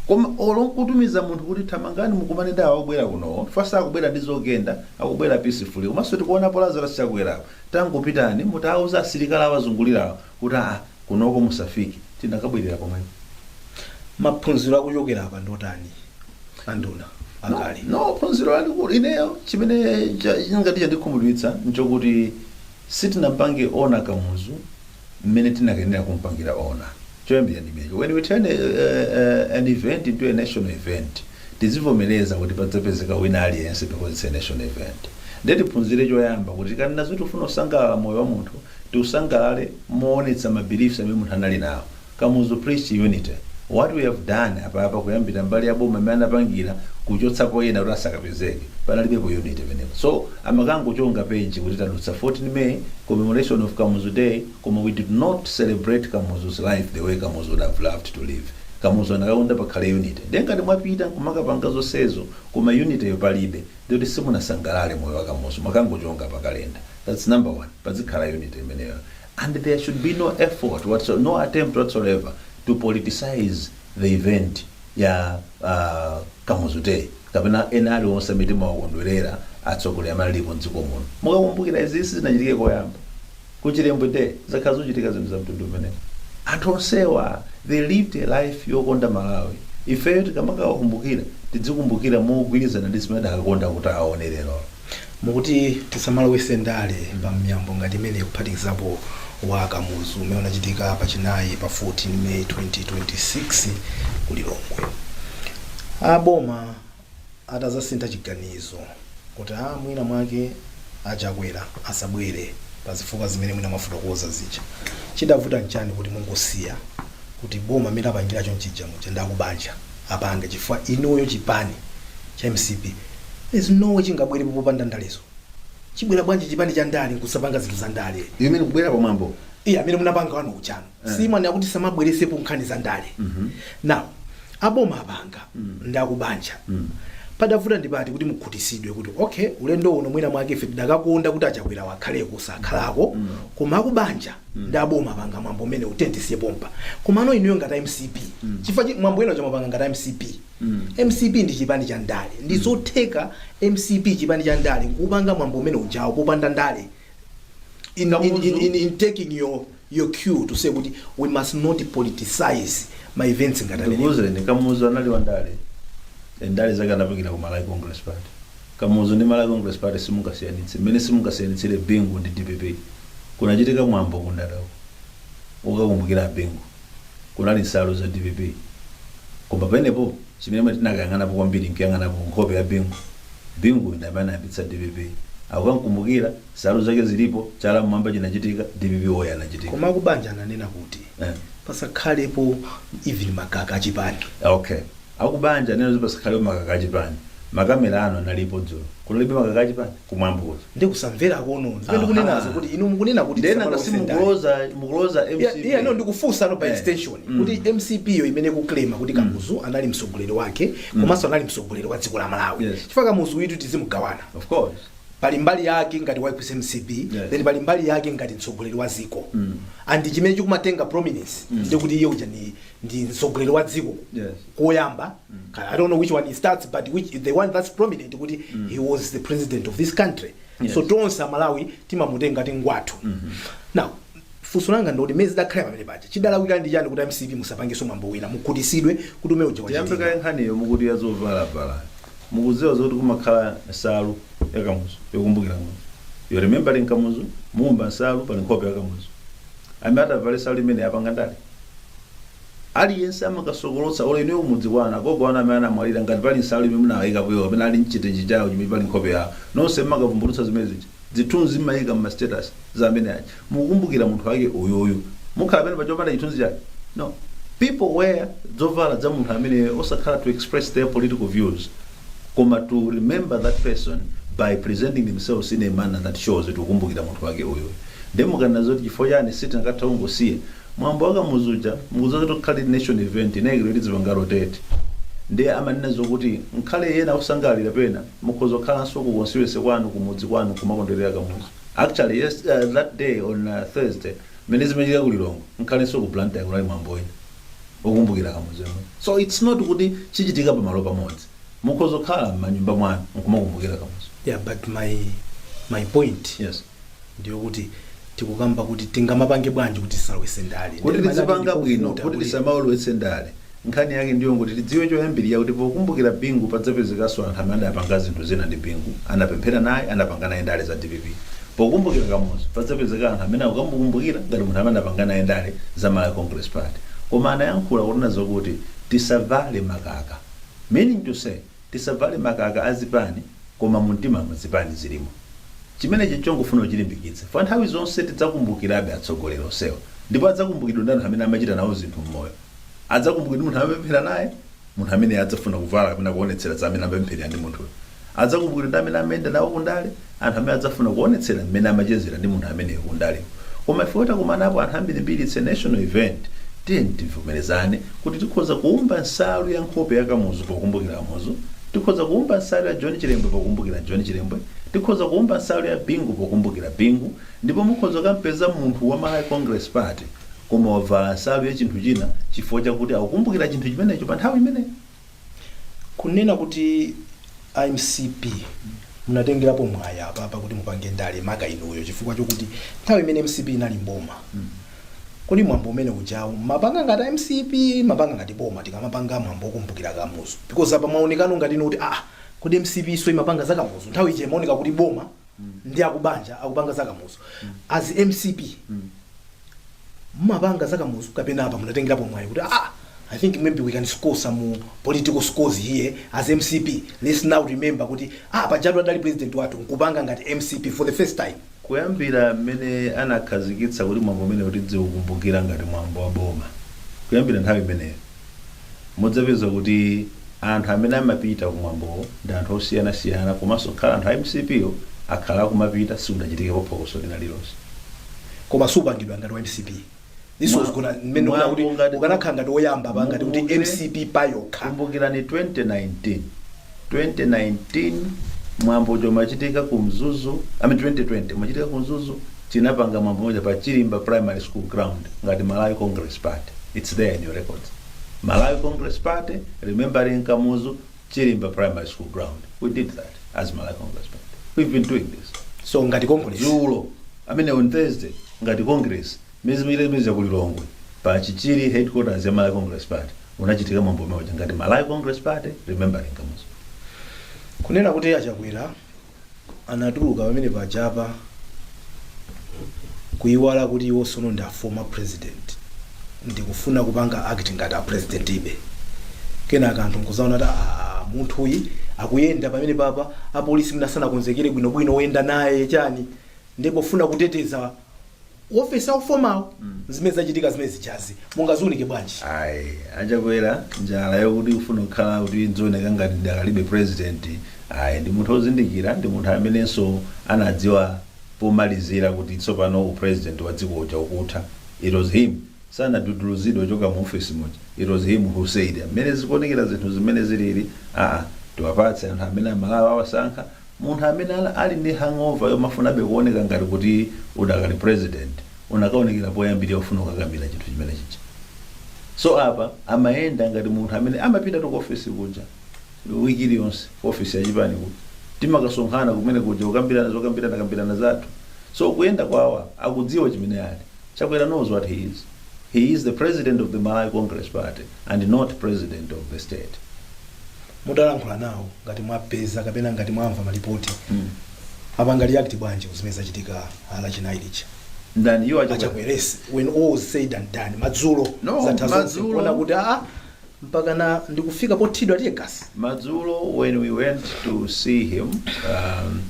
[SPEAKER 4] Koma olo nkutumiza munthu kuti thamangani mukumane ndi awo akubwera kunowo. First sakubwera ndi zogenda, akubwera peacefully. Komanso tikuonapo Lazarus Chakwera apo. Tangopitani mutauza asilikali awazungulirawo kuti aa kunoko musafike tinakabwerera pomwepo.
[SPEAKER 3] Maphunziro akuchokera apa ndiotani anduna akale? No, no phunziro
[SPEAKER 4] lalikulu ineyo chimene cha- chingati chandikhumudwitsa nchokuti sitinampange honor Kamuzu mmene tinakayenera kumpangira honor choyambira ndi chimenecho when we turn uh, uh, an event into a national event tizivomereza kuti padzapezeka wina aliyense because it's a national event nde tiphunzire choyamba kuti tikanena zoti tikufuna kusangalala moyo wa munthu tiusangalale moonetsa mabeliefs amene munthu anali nawo Kamuzu preach unity. What we have done apapa kuyambira mbali ya boma mmene anapangira kuchotsapo ena kuti asakapezeke panalibepo unity penepa. So amakangochonga page kuti tadutsa 14 May commemoration of Kamuzu day koma we did not celebrate Kamuzu's life the way Kamuzu would have loved to live. Kamuzu anakakonda pakhale unity. Ndiye ngati mwapita nkumakapanga zonsezo koma unity yo palibe ndiye kuti simunasangalale moyo wa Kamuzu mwakangochonga pa calendar. That's number one. Padzikhala unity imeneyo. And there should be no effort whatso, no attempt whatsoever to politicize the event ya uh, Kamuzu Day kapena ena aliwonse amene timawakondwerera atsogoleri amene alipo mdziko muno. Mukakumbukira izi sizinachitike koyamba ku Chilembwe Day zakhala zikuchitika zinthu za mtundu umenewu. Anthu onsewa they lived a life yokonda Malawi. Ifeyo tikamakawakumbukira tidzikumbukira mogwirizana ndi zimene adakakonda kuti aone lero.
[SPEAKER 3] Mukuti tisamalowetse ndale pa miyambo ngati imeneyi kuphatikizapo wa Kamuzu umene unachitika pa Chinayi pa 14 May 2026 ku Lilongwe. A boma atadzasintha chiganizo kuti a mwina mwake a Chakwera asabwere pa zifukwa zimene mwina mwafotokoza zija. Chidavuta nchani kuti mungosiya kuti boma mmene lapangira chonchija muja ndi akubanja? apange chifukwa inuyo chipani cha MCP there is no way chingabwerepo popanda ndalezo chibwera bwanji chipani cha ndale nkusapanga zinthu za ndale You mean kubwera pa mwambo?
[SPEAKER 4] iya amene munapanga
[SPEAKER 3] wanu uja nu simwanena kuti tisamabweretsepo nkhani za ndale now aboma apanga ndi akubanja padavuta ndi pati kuti mukhutisidwe kuti okay ulendo uno mwina mwake ife tidakakonda kuti a Chakwera akhaleko sakhalako koma akubanja ndi aboma apanga mwambo umenewu tiye tisiye pompa komano inuyo ngati a MCP chifukwa chi- mwambo wina uja mwapanga ngati a MCP MCP ndi chipani cha ndale ndi zotheka MCP chipani cha ndale kupanga mwambo umene ujawo popanda ndale in, in, Kamuzu. in, in, in taking your, your cue to say kuti we must not politicize ma events ngati amenewa. ndikuuzire
[SPEAKER 4] Kamuzu anali wandale ndale zake anapangira ku Malawi Congress Party Kamuzu ndi Malawi Congress Party simungasiyanitse mmene simungasiyanitsire Bingu ndi DPP. Kunachitika mwambo ku Ndata uko wokakumbukira a Bingu. Kunali nsalu za DPP koma penepo chimene tinakayang'anapo kwambiri nkuyang'anapo nkhope ya Bingu. Binguyu ndi amene anayambitsa DPP. Akukamkumbukira, nsalu zake zilipo, chala mmwamba chinachitika, DPP woye anachitika. Koma akubanja ananena
[SPEAKER 3] kuti Eh. pasakhalepo even makaka achipani. Okay.
[SPEAKER 4] Akubanja anena zoti pasakhalepo makaka achipani. Makamera anu analipo dzulo. Kunalibe makaka achipani? Kumwambo kuja. Ndiye
[SPEAKER 3] kusamverako nde zimene ndikunenazo Aha. kuti inu mukunena kuti Ndiye nanga tisamalowetse ndale. simukuloza
[SPEAKER 4] mukuloza Yeah, mcp. yeah, no, ndikufunsa no by
[SPEAKER 3] Eh. extension Mm. kuti mcp yo imene ikuklema kuti kamuzu anali mtsogoleri wake komanso anali mtsogoleri wa dziko la malawi Yes. chifukwa kamuzu uyitu tizimugawana Of
[SPEAKER 4] course. pali mbali yake
[SPEAKER 3] ngati wa mcp Yes. then pali mbali yake ngati mtsogoleri wa dziko Mm. and chimene chikumatenga prominence ndikuti iye uja ni ndi mtsogoleri wa dziko Yes. koyamba Ka- i don't know which one he starts but which the one that's prominent kuti he was the president of this country Yes. so tonse amalawi timamutenga ngati ngwathu now funso langa ndoti mmene zidakhala pamene paja chidalawika ndi chani kuti mcp musapangenso mwambo wina mukhutisidwe kuti umene uja tiyambe wachitika kaye nkhaniyo
[SPEAKER 4] mukuti yazovalabvala mukudziwa zoti kumakhala nsalu yakamuzu yokumbukira kamuzu you remembering kamuzu mumba nsalu pali nkhope yakamuzu amene atavale nsalu imene wapanga ndale Aliyense amakasokolotsa olo inuyo kumudzi kwanu agogo anu amene anamwalira ngati pali nsalu imene munawayikapo iwowo kapena ali nchitenje chawo chimene pali nkhope yawo nonse mmakavumbulutsa zimene zija dzithunzi mmayika mma status za amene aja mukukumbukira munthu wake uyoyo mukhala pamene paja opanda chithunzi chake no people wear dzovala dza munthu ameneyo osakhala to express their political views koma to remember that person by presenting themselves in a manner that shows kuti tikukumbukira munthu wake uyo nde mukanena zoti chifukwa chani sitinakathe kungosiya mwambo wakamuzuja mukudziwa kuti ukhale national event inayikiro kuti izipanga rotate ndiye amanena zokuti nkhale ena akusangalalira pena mukhoza kukhalanso ku constituency kwanu kumudzi kwanu kumakondwerera kamuzu actually yes, uh, that day on uh, thursday mmene zimachitika ku lilongwe nkhalenso ku blantyre kunali mwambo wina okumbukira kamuzu yemwe so its not kuti chichitika pamalo pamodzi mukhoza kukhala m'manyumba mwanu nkumakumbukira kamuzu yeah but my
[SPEAKER 3] my point yes ndiyokuti tikukamba kuti tingamapange bwanji kuti tisalowetse ndale kuti Ndale tizipanga bwino
[SPEAKER 4] ndikuvuta kuti kuti- tisamaulowetse ndale nkhani yake ndiyo kuti tidziwe choyambirira kuti pokumbukira bingu padzapezekanso anthu amene adapanga zinthu zina ndi bingu anapemphera naye anapanga naye ndale za dpp Pokumbukira Kamuzu padzapezeka anthu amene akumukumbukira ngati munthu amene anapanga naye ndale za Malawi Congress Party koma anayankhula kunena zokuti tisavale makaka meaning to say tisavale makaka a zipani koma mu mtimamu zipani zilimo chimenechi nchongofuna kuchilimbikitsa chifukwa nthawi zonse tidzakumbukirabe atsogoleri onsewa ndipo adzakumbukidwa ndi anthu amene amachita nawo zinthu mmoyo adzakumbukidwa ndi munthu amene amapemphera naye munthu amene adzafuna kuvala kapena kuonetsera za amene amapempherera ndi munthuyo adzakumbukidwa ndi amene amayenda nawo kundale anthu amene adzafuna kuonetsera mmene amachezera ndi munthu ameneyo kundale koma ifeyo takumanapo anthu ambirimbiri it's a national event tiyeni tivomerezane kuti tikhoza kuumba nsalu ya nkhope ya kamuzu pokumbukira kamuzu tikhoza kuumba nsalu ya john chilembwe pokumbukira john chilembwe tikhoza kuumba nsalu ya bingu pokumbukira bingu ndipo mukhoza kukampeza munthu wa malawi congress party koma wavala nsalu ya chinthu china chifukwa chakuti akukumbukira chinthu
[SPEAKER 3] chimenecho pa
[SPEAKER 4] nthawi
[SPEAKER 3] imeneyo
[SPEAKER 4] kunena kuti a
[SPEAKER 3] mcp munatengerapo mwayi apa kuti mupange ndale maka inuyo chifukwa chokuti nthawi imene mcp inali mboma kodi mwambo umene ujawu mapanga ngati mcp mapanga ngati boma tikamapanga mwambo okumbukira kamuzu because apa mwaoneka ngati ndi inu kuti ah kodi mcp so imapanga za kamuzu nthawi ija imaoneka kuti boma ndi akubanja akupanga zakamuzu as mcp mumapanga zakamuzu kapena apa munatengerapo mwayi kuti ah i think maybe we can score some political scores here as mcp let's now remember kuti ah pajatu adali president wathu nkupanga ngati mcp for the first time kuyambira
[SPEAKER 4] mmene anakhazikitsa kuti mwambo umenewu tidziukumbukira ngati mwambo wa boma kuyambira nthawi imeneyo mudzapeza kuti anthu amene amapita kumwambowo ndi anthu osiyanasiyana komanso khala anthu a mcp yo akhala akumapita sikudachitikepo phokoso lina lilonse
[SPEAKER 3] koma supangidwa ngati wa mcp this was Mwa- gonna mmene mukuti ukanakhala ngati woyamba pa ngati kuti mcp payokha kumbukirani
[SPEAKER 4] 2019 2019 mwambo uja umachitika ku mzuzu ami 2020 umachitika ku mzuzu tinapanga mwambo omwe uja pa chilimba primary school ground ngati malawi congress party its there in your records malawi congress party remembering kamuzu chilimba primary school ground we did that as malawi congress party we've been doing this so ngati congress
[SPEAKER 3] dzulo amene on
[SPEAKER 4] thursday ngati congress Mmene zimachitira chipanicha ku Lilongwe pa Chichiri headquarters ya Malawi Congress Party unachitika mwambo omwe uja ngati Malawi Congress Party Remembering Kamuzu. Kunena
[SPEAKER 3] kuti a Chakwera anatuluka pamene pajapa kuyiwala kuti iwo sono ndi a former president ndikufuna kupanga act ngati a president be kenaka anthu nkuzaona kuti "Ah, munthu uyi akuyenda pamenepapa apolisi asanakonzekere bwinobwino oyenda naye chani ndipofuna kuteteza ofesi ya u former wo zimene zachitika zimene zijazi mungaziunike bwanji ayi a
[SPEAKER 4] chakwera njala yakuti ufuna kukhala kuti nzioneka ngati ndikadalibe president ayi ndi munthu ozindikira ndi munthu amenenso anadziwa pomalizira kuti tsopano u president wa dziko uja ukutha it was him sanaduduluzidwe kuchoka mu office muja it was him who said mmene zikuonekera zinthu mmene zilili aa tiwapatse anthu amene amalawi awasankha Munthu amene ali ndi hangover yomafunabe kuoneka ngati kuti udakali president unakaonekera poyambirira ufuna kukakamira chinthu chimene chija. So apa amayenda ngati munthu amene amapitatu ku office kuja week iliyonse ku office ya chipani kuja timakasonkhana kumene kuja kukambirana zokambirana kambirana zathu. So kuyenda kwawo apa akudziwa chimene ali. Chakwera knows what he is. He is the president of the Malawi Congress Party and not president of the state.
[SPEAKER 3] mudalankhula nawo ngati mwapeza kapena ngati mwamva malipoti Mm. apanga react bwanji ku zimene zachitika Lachinayi lija ndani iwo
[SPEAKER 4] a Chakwera a Chakwera Yes when
[SPEAKER 3] all is said and done madzulo No, zatha zonse madzulo. kuona kuti aa mpakana ndikufika pothiridwa teargas madzulo when
[SPEAKER 4] we went to see him um,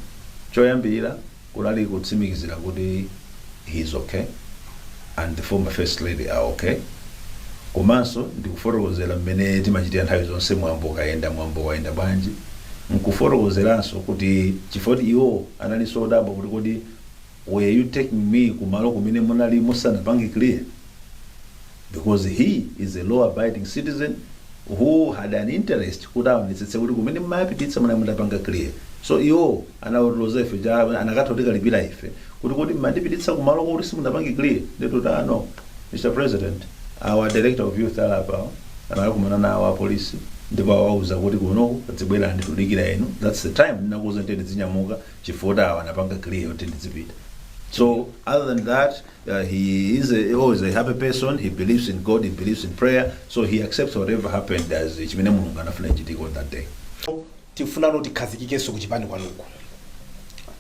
[SPEAKER 4] choyambirira Kunali kutsimikizira kuti he is ok and the former first lady are ok komanso ndikufotokozera mmene timachitira nthawi zonse mwambo ukayenda, mwambo wayenda bwanji nkufotokozeranso kuti chifukwa kuti iwo analinso odabwa kuti kodi why are you taking me kumalo kumene munali musanapange clear? because he is a law abiding citizen who had an interest kuti aonetsetse kuti kumene mmawapititsa munali mutapanga clear so iwo anawatiloza ife ija anakatha kutikalipira ife kuti kodi mmandipititsa kumalo kuti simunapange clear nde tinati ah no mr president our director of youth ali apa anakumana nawo apolisi ndipo awauza kuti kuno zibwerani tikudikira inu that's the time anandiuza kuti ndidzinyamuka chifukwa kuti awa anapanga clear kuti ndidzipita so other than that uh, he is always a happy person he believes in god he believes in prayer so he accepts whatever happened as chimene mulungu anafuna chichitike on that day tifuna
[SPEAKER 3] kuti tikhazikikenso ku chipani kwanuko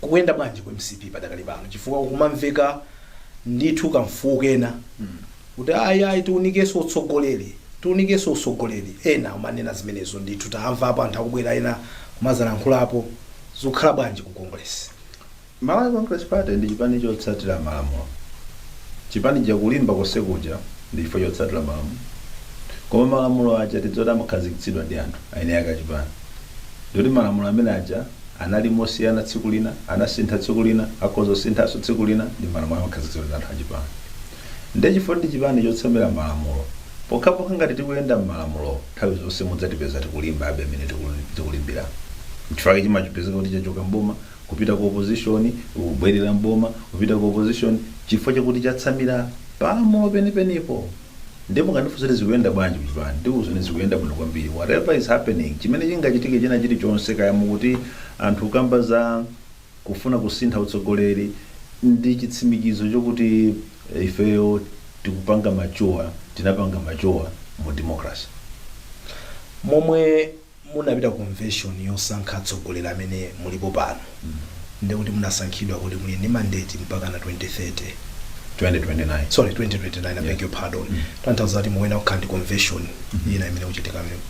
[SPEAKER 3] kukuyenda bwanji ku mcp padakali pano chifukwa kumamveka ndithu kamfuwu kena kuti ayi ayi tiunikenso utsogoleri tiunikenso utsogoleri ena kumanena zimenezo ndithu tamvapo anthu akubwera ena kumadzalankhulapo zikukhala bwanji ku congress Malawi
[SPEAKER 4] Congress Party ndi chipani chotsatira malamulo. Chipani chija kulimba konse kuja ndi chifukwa chotsatira malamulo. Koma malamulo aja tidziwe kuti amakhazikitsidwa ndi anthu, aeni ake a chipani. Nde kuti malamulo amene aja anali mosiyana tsiku lina, anasintha tsiku lina, akhoza kusinthanso tsiku lina, ndi malamulo amakhazikitsidwa ndi anthu a chipani. Nde chifukwa ndi chipani chotsamira malamulo, pokhapokha ngati tikuyenda mmalamulowo, nthawi zonse mudzatipeza tikulimbabe mmene tikulimbiramu. Nchifukwa chake chimapezeka kuti chachoka mboma, kupita ku opposition kubwerera m'boma kupita ku opposition chifukwa chakuti chatsamira palamulo penipenipo nde mukandifunsa kuti zikuyenda bwanji kuchipani ndikuuzani zikuyenda bwino kwambiri whatever is happening chimene chingachitike china chilichonse kaya mukuti anthu akukamba za kufuna kusintha utsogoleri ndi chitsimikizo chokuti eh, ifeyo tikupanga mature tinapanga mature mu democracy momwe
[SPEAKER 3] Munapita convention yosankha atsogoleri amene mulipo pano ndekuti munasankhidwa kuti muli ndi mandate mpakana 2030.
[SPEAKER 4] 2029. sorry 2029
[SPEAKER 3] I beg your pardon tanthauza kuti mukuyenera kukhala ndi convention ina imene idzachitika mmenemo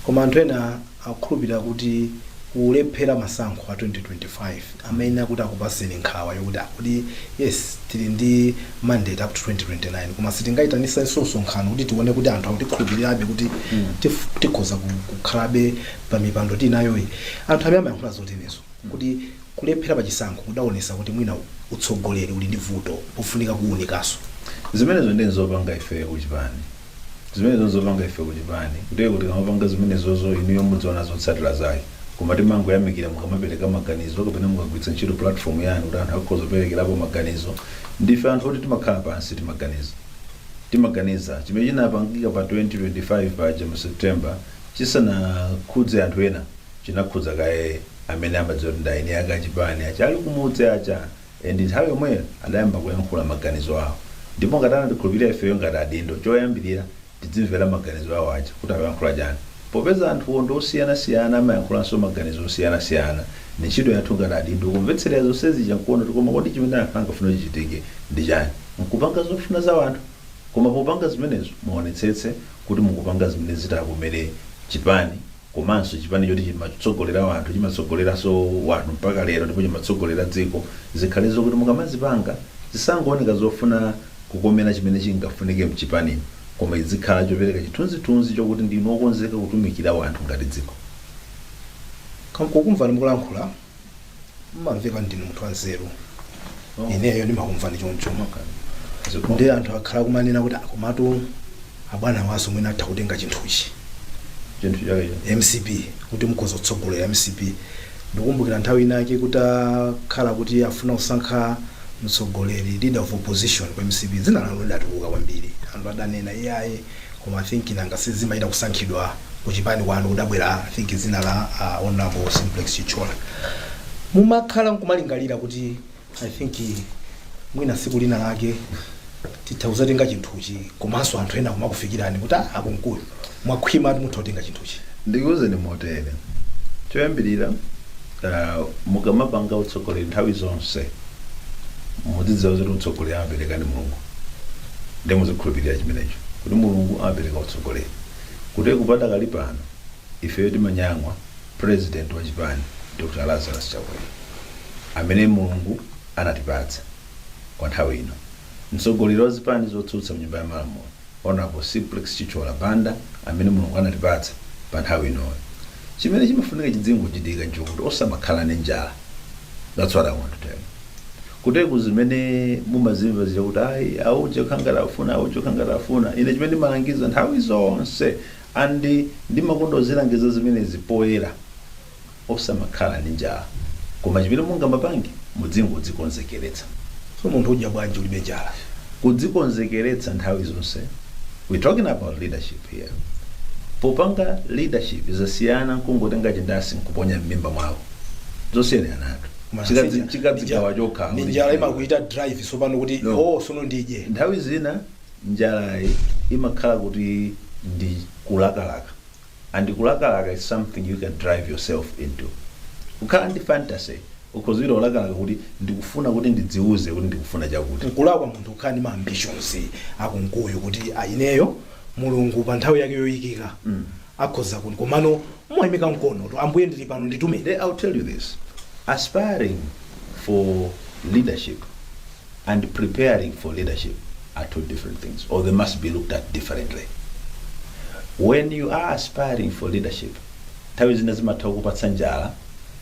[SPEAKER 3] koma anthu ena akukhulupirira kuti kulephera masankho a 2025 amayenera kuti akupaseni nkhawa yokuti ah kodi yes tili ndi mandate up to 2029 koma sitingaitanisenso msonkhano kuti tione kuti anthu akutikhulupirirabe kuti tif- tikhoza ku- kukhalabe pa mipando tinayoyi anthu amene amayankhula zoterozo kuti kulephera pa chisankho kudaonesa kuti mwina utsogoleri uli ndi vuto pofunika kuwunikaso zimenezo ndi
[SPEAKER 4] nzopanga ife kuchipani zimenezo nzopanga ife kuchipani ndiye kuti tikamapanga zimenezozo inuyo mudziona zotsatira zake koma timangoyamikira mukamapereka maganizo kapena mukagwiritsa ntchito platform yanu kuti anthu akhoza kuperekerapo maganizo ndife anthu oti timakhala pansi timaganiza timaganiza chimene chinapangika pa 2025 paja mu september chisanakhudze anthu ena chinakhudza kaye amene amadziwa kuti ndi eni ake a chipani aja ali kumudzi aja And nthawi yomweyo adayamba kuyankhula maganizo awo. Ndipo ngati anatikhulupirira ifeyo ngati adindo, choyambirira tidzimvera maganizo awo aja kuti akuyankhula chani. Popeza anthuwo ndi osiyanasiyana amayankhulanso maganizo osiyanasiyana, ndi ntchito yathu ngati adindo kumvetserera zonse zija nkuona kuti koma kodi chimene anthu angafune chichitike ndi chani? Nkupanga zofuna za wanthu? Koma popanga zimenezo muonetsetse kuti mukupanga zimene zitakomere chipani. komanso chipani choti chimatsogolera wanthu chimatsogoleraso wanthu mpaka lero ndipo chimatsogolera dziko zikhale zokuti mukamazipanga zisangooneka zofuna kukomera chimene chingafunike mchipanimo koma zidzikhala chopereka chithunzithunzi chokuti ndinu okonzeka kutumikira wanthu ngati dziko.
[SPEAKER 3] Kukumvani mukulankhula. mmamveka ndinu munthu wanzeru ineyo ndimakumvani choncho ndiye anthu akhala kumanena kuti komatu abwana awanso mwina atha kutenga chinthuchi chinthu
[SPEAKER 4] chake mcp
[SPEAKER 3] kuti mukhoza kutsogolera mcp ndikumbukira nthawi inake kuti akhala kuti afuna kusankha mtsogoleri leader of opposition kwa mcp dzina lanu lidatuluka kwambiri anthu adanena iyayi Koma think nanga si zimachita kusankhidwa ku chipani kwanu kudabwera think dzina la a Hon Simplex Chithyola. Mumakhala nkumalingalira kuti I think mwina tsiku lina lake titha kudzatenga chinthuchi komanso anthu ena kumakufikirani kuti ah a Kunkuyu mwakhwimatu mutha kutenga chinthuchi.
[SPEAKER 4] Ndikuuzeni motere, choyambirira ah, mukamapanga utsogoleri nthawi zonse mudzidziwa kuti utsogoleri amapereka ndi Mulungu. ndiye muzikhulupirira chimenecho kuti mulungu amapereka utsogoleri kuti padakali pano ifeyo timanyang'wa president wa chipani dr lazarus chakwera amene mulungu anatipatsa kwa nthawi ino mtsogoleri wa zipani zotsutsa mnyumba ya malamulo honorable simplex chithyola banda amene mulungu anatipatsa pa nthawi inoyo chimene chimafunika chidzingochitika nchokuti osamakhala ndi njala that's what i want to tell you Kuti zimene mumazimva zija kuti ayi auje kukhala ngati akufuna auje kukhala ngati akufuna ine chimene ndimalangiza nthawi zonse and ndimakonda kuzilangiza zimenezi poyera osamakhala ndi njala koma chimene mungamapange mudzingodzikonzekeretsa. So munthu
[SPEAKER 3] udya bwanji ulibe njala?
[SPEAKER 4] Kudzikonzekeretsa nthawi zonse we talking about leadership here popanga leadership zasiyana nkungotenga chindasi nkuponya mmimba mwawo zosiyaniratu. Chikadzi- chikadzigawa chokha. Nde njala
[SPEAKER 3] imakuita drive sopano kuti oh sono ndidye nthawi
[SPEAKER 4] zina njalayi imakhala kuti ndi kulakalaka and kulakalaka is something you can drive yourself into kukhala ndi fantasy ukhoza kulakalaka kuti ndikufuna kuti ndidziuze kuti ndikufuna chakuti nkulakwa munthu kukhala ndi ma
[SPEAKER 3] ambitions akunkuyu kuti ineyo mulungu pa nthawi yake yoyikika akhoza kuli komano mwaimika mkono to ambuye ndili pano nditumeni I'll tell you
[SPEAKER 4] this aspiring for leadership and preparing for leadership are two different things, or they must be looked at differently. When you are aspiring for leadership, nthawi zina zimatha kukupatsa njala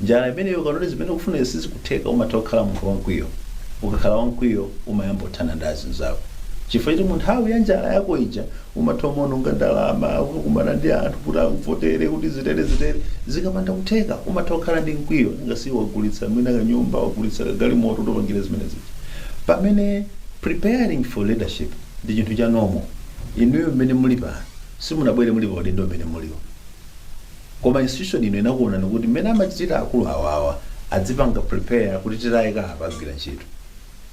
[SPEAKER 4] Njala imeneyo ukaona kuti zimene ukufunazi sizikutheka umatha kukhala munthu wamkwiyo. Ukakhala wamkwiyo umayamba kuthana ndi anzako. Chifukwa choti mu nthawi ya njala yako ija umatha kumaononga ndalama kukakumana ndi anthu kuti akuvotere kuti zitere zitere. Zikapanda kutheka umatha kukhala ndi mkwiyo nanga si wagulitsa mwina kanyumba wagulitsa kagalimoto kuti upangire zimene zija. Pamene preparing for leadership ndi chinthu cha normal. Inuyo mmene muli pano simunabwere muli pa udindo umene muliwo. Koma institution ino inakuonani kuti mmene amachitira akulu awawa adzipanga prepare kuti titayika apa agwira ntchito.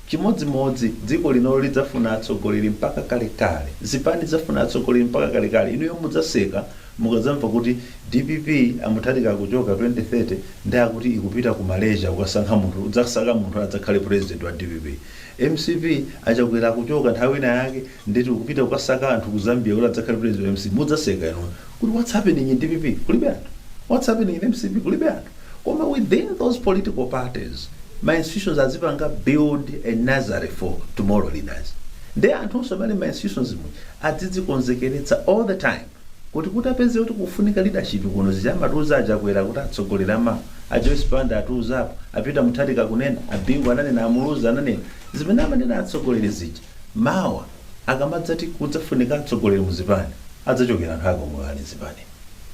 [SPEAKER 4] Chimodzimodzi dziko linolo lidzafuna atsogoleri mpaka kalekale. Zipani zidzafuna atsogoleri mpaka kalekale. Inuyo mudzaseka mukadzamva kuti dpp a Mutharika akuchoka 2030 nde akuti ikupita ku Malaysia kukasankha munthu, kudzasaka munthu adzakhale president wa dpp. Mcp a Chakwera akuchoka nthawi ina yake Nde akuti ikupita kukasaka anthu ku Zambia kuti adzakhale president wa mcp mudzaseka inu kuti what's happening in dpp kulibe anthu what's happening in mcp kulibe anthu koma within those political parties ma institutions azipanga build a nursery for tomorrow leaders nde anthunso amene ali mma institutions mu adzidzikonzekeretsa all the time kuti kuti apeze kuti kufunika leadership kuno zija amatiuza a Chakwera kuti atsogoleri amawa a Joyce Banda atiuzapo a Peter Mutharika akunena a Bingu ananena a Muluzi ananena zimene amanena atsogoleri zija Mawa akamadzati kudzafunika atsogoleri mu zipani, adzachokera anthu ako omwe ali mzipanimu.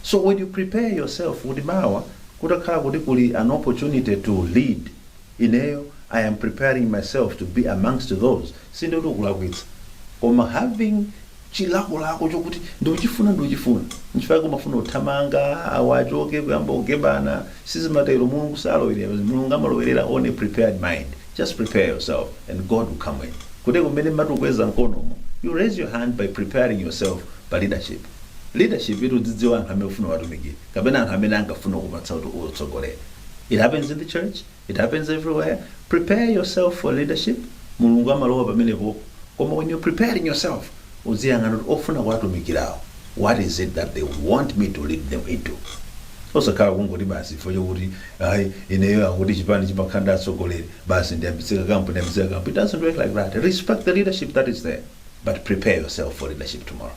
[SPEAKER 4] So when you prepare yourself kuti mawa kutakhala kuti kuli an opportunity to lead, ineyo I am preparing myself to be amongst those, sindikuti ukulakwitsa koma having. chilakolako chokuti ndikuchifuna ndikuchifuna nchifukwa chake umafuna uthamanga awa achoke kuyamba kugebana sizimatero mulungu salowerera. mulungu amalowerera on a prepared mind just prepare yourself and god will come in kuti mmene mmati ukweza mkonomo you raise your hand by preparing yourself pa leadership leadership iti udzidziwa anthu amene ufuna uwatumikire kapena anthu amene akufuna kupatsa kuti utsogolere it happens in the church It happens everywhere, prepare yourself for leadership, Mulungu amalowa pamenepopo koma when you're preparing yourself udziyang'ana kuti ofuna kuwatumikirawo what is it that they would want me to lead them into osakhala kungoti basi chifukwa chokuti ayi ineyo akuti chipani chimakhala ndi atsogoleri basi ndiyambitse kakampu ndiyambitse kakampu it doesn't work like that respect the leadership that is there but prepare yourself for leadership tomorrow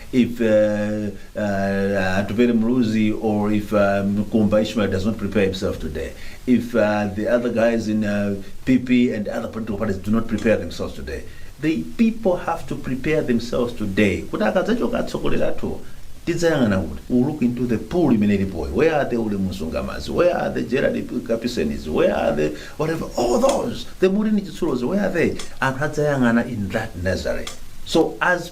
[SPEAKER 4] if uh, uh, Atupele Muluzi or if um, Kumba Ishmael does not prepare himself today, if uh, the other guys in uh, PP and other political parties do not prepare themselves today, the people have to prepare themselves today. Kuti akadzachoka atsogoleri athu tidzayang'ana kuti we look into the pool imene ilipoyo where are the ule msungamazi where are the gerald kapisenis where are the whatever all those the mulini chitsulozi where are they anthu adzayang'ana in that nazareth so as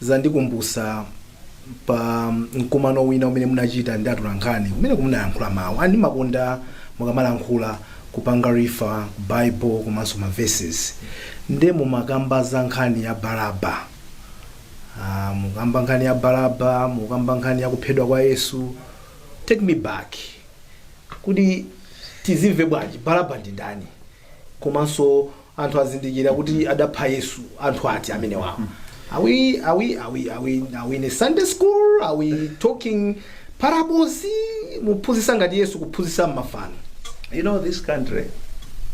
[SPEAKER 3] Zandikumbutsa pa mkumano wina umene munachita ndi atolankhani kumeneko munayankhula mawu and ndimakonda mukamalankhula kupanga rifa ku bible komanso ma verses nde mumakamba za nkhani ya Baraba Ah, mukamba nkhani ya Baraba mukamba nkhani ya kuphedwa kwa Yesu take me back kuti tizimve bwanji Baraba ndi ndani komanso anthu azindikira kuti adapha yesu anthu ati amenewa are we, are we, are we, are we, are we in a sunday school are we talking parables muphunzitsa ngati yesu kuphunzitsa mmafanizo you know this
[SPEAKER 4] country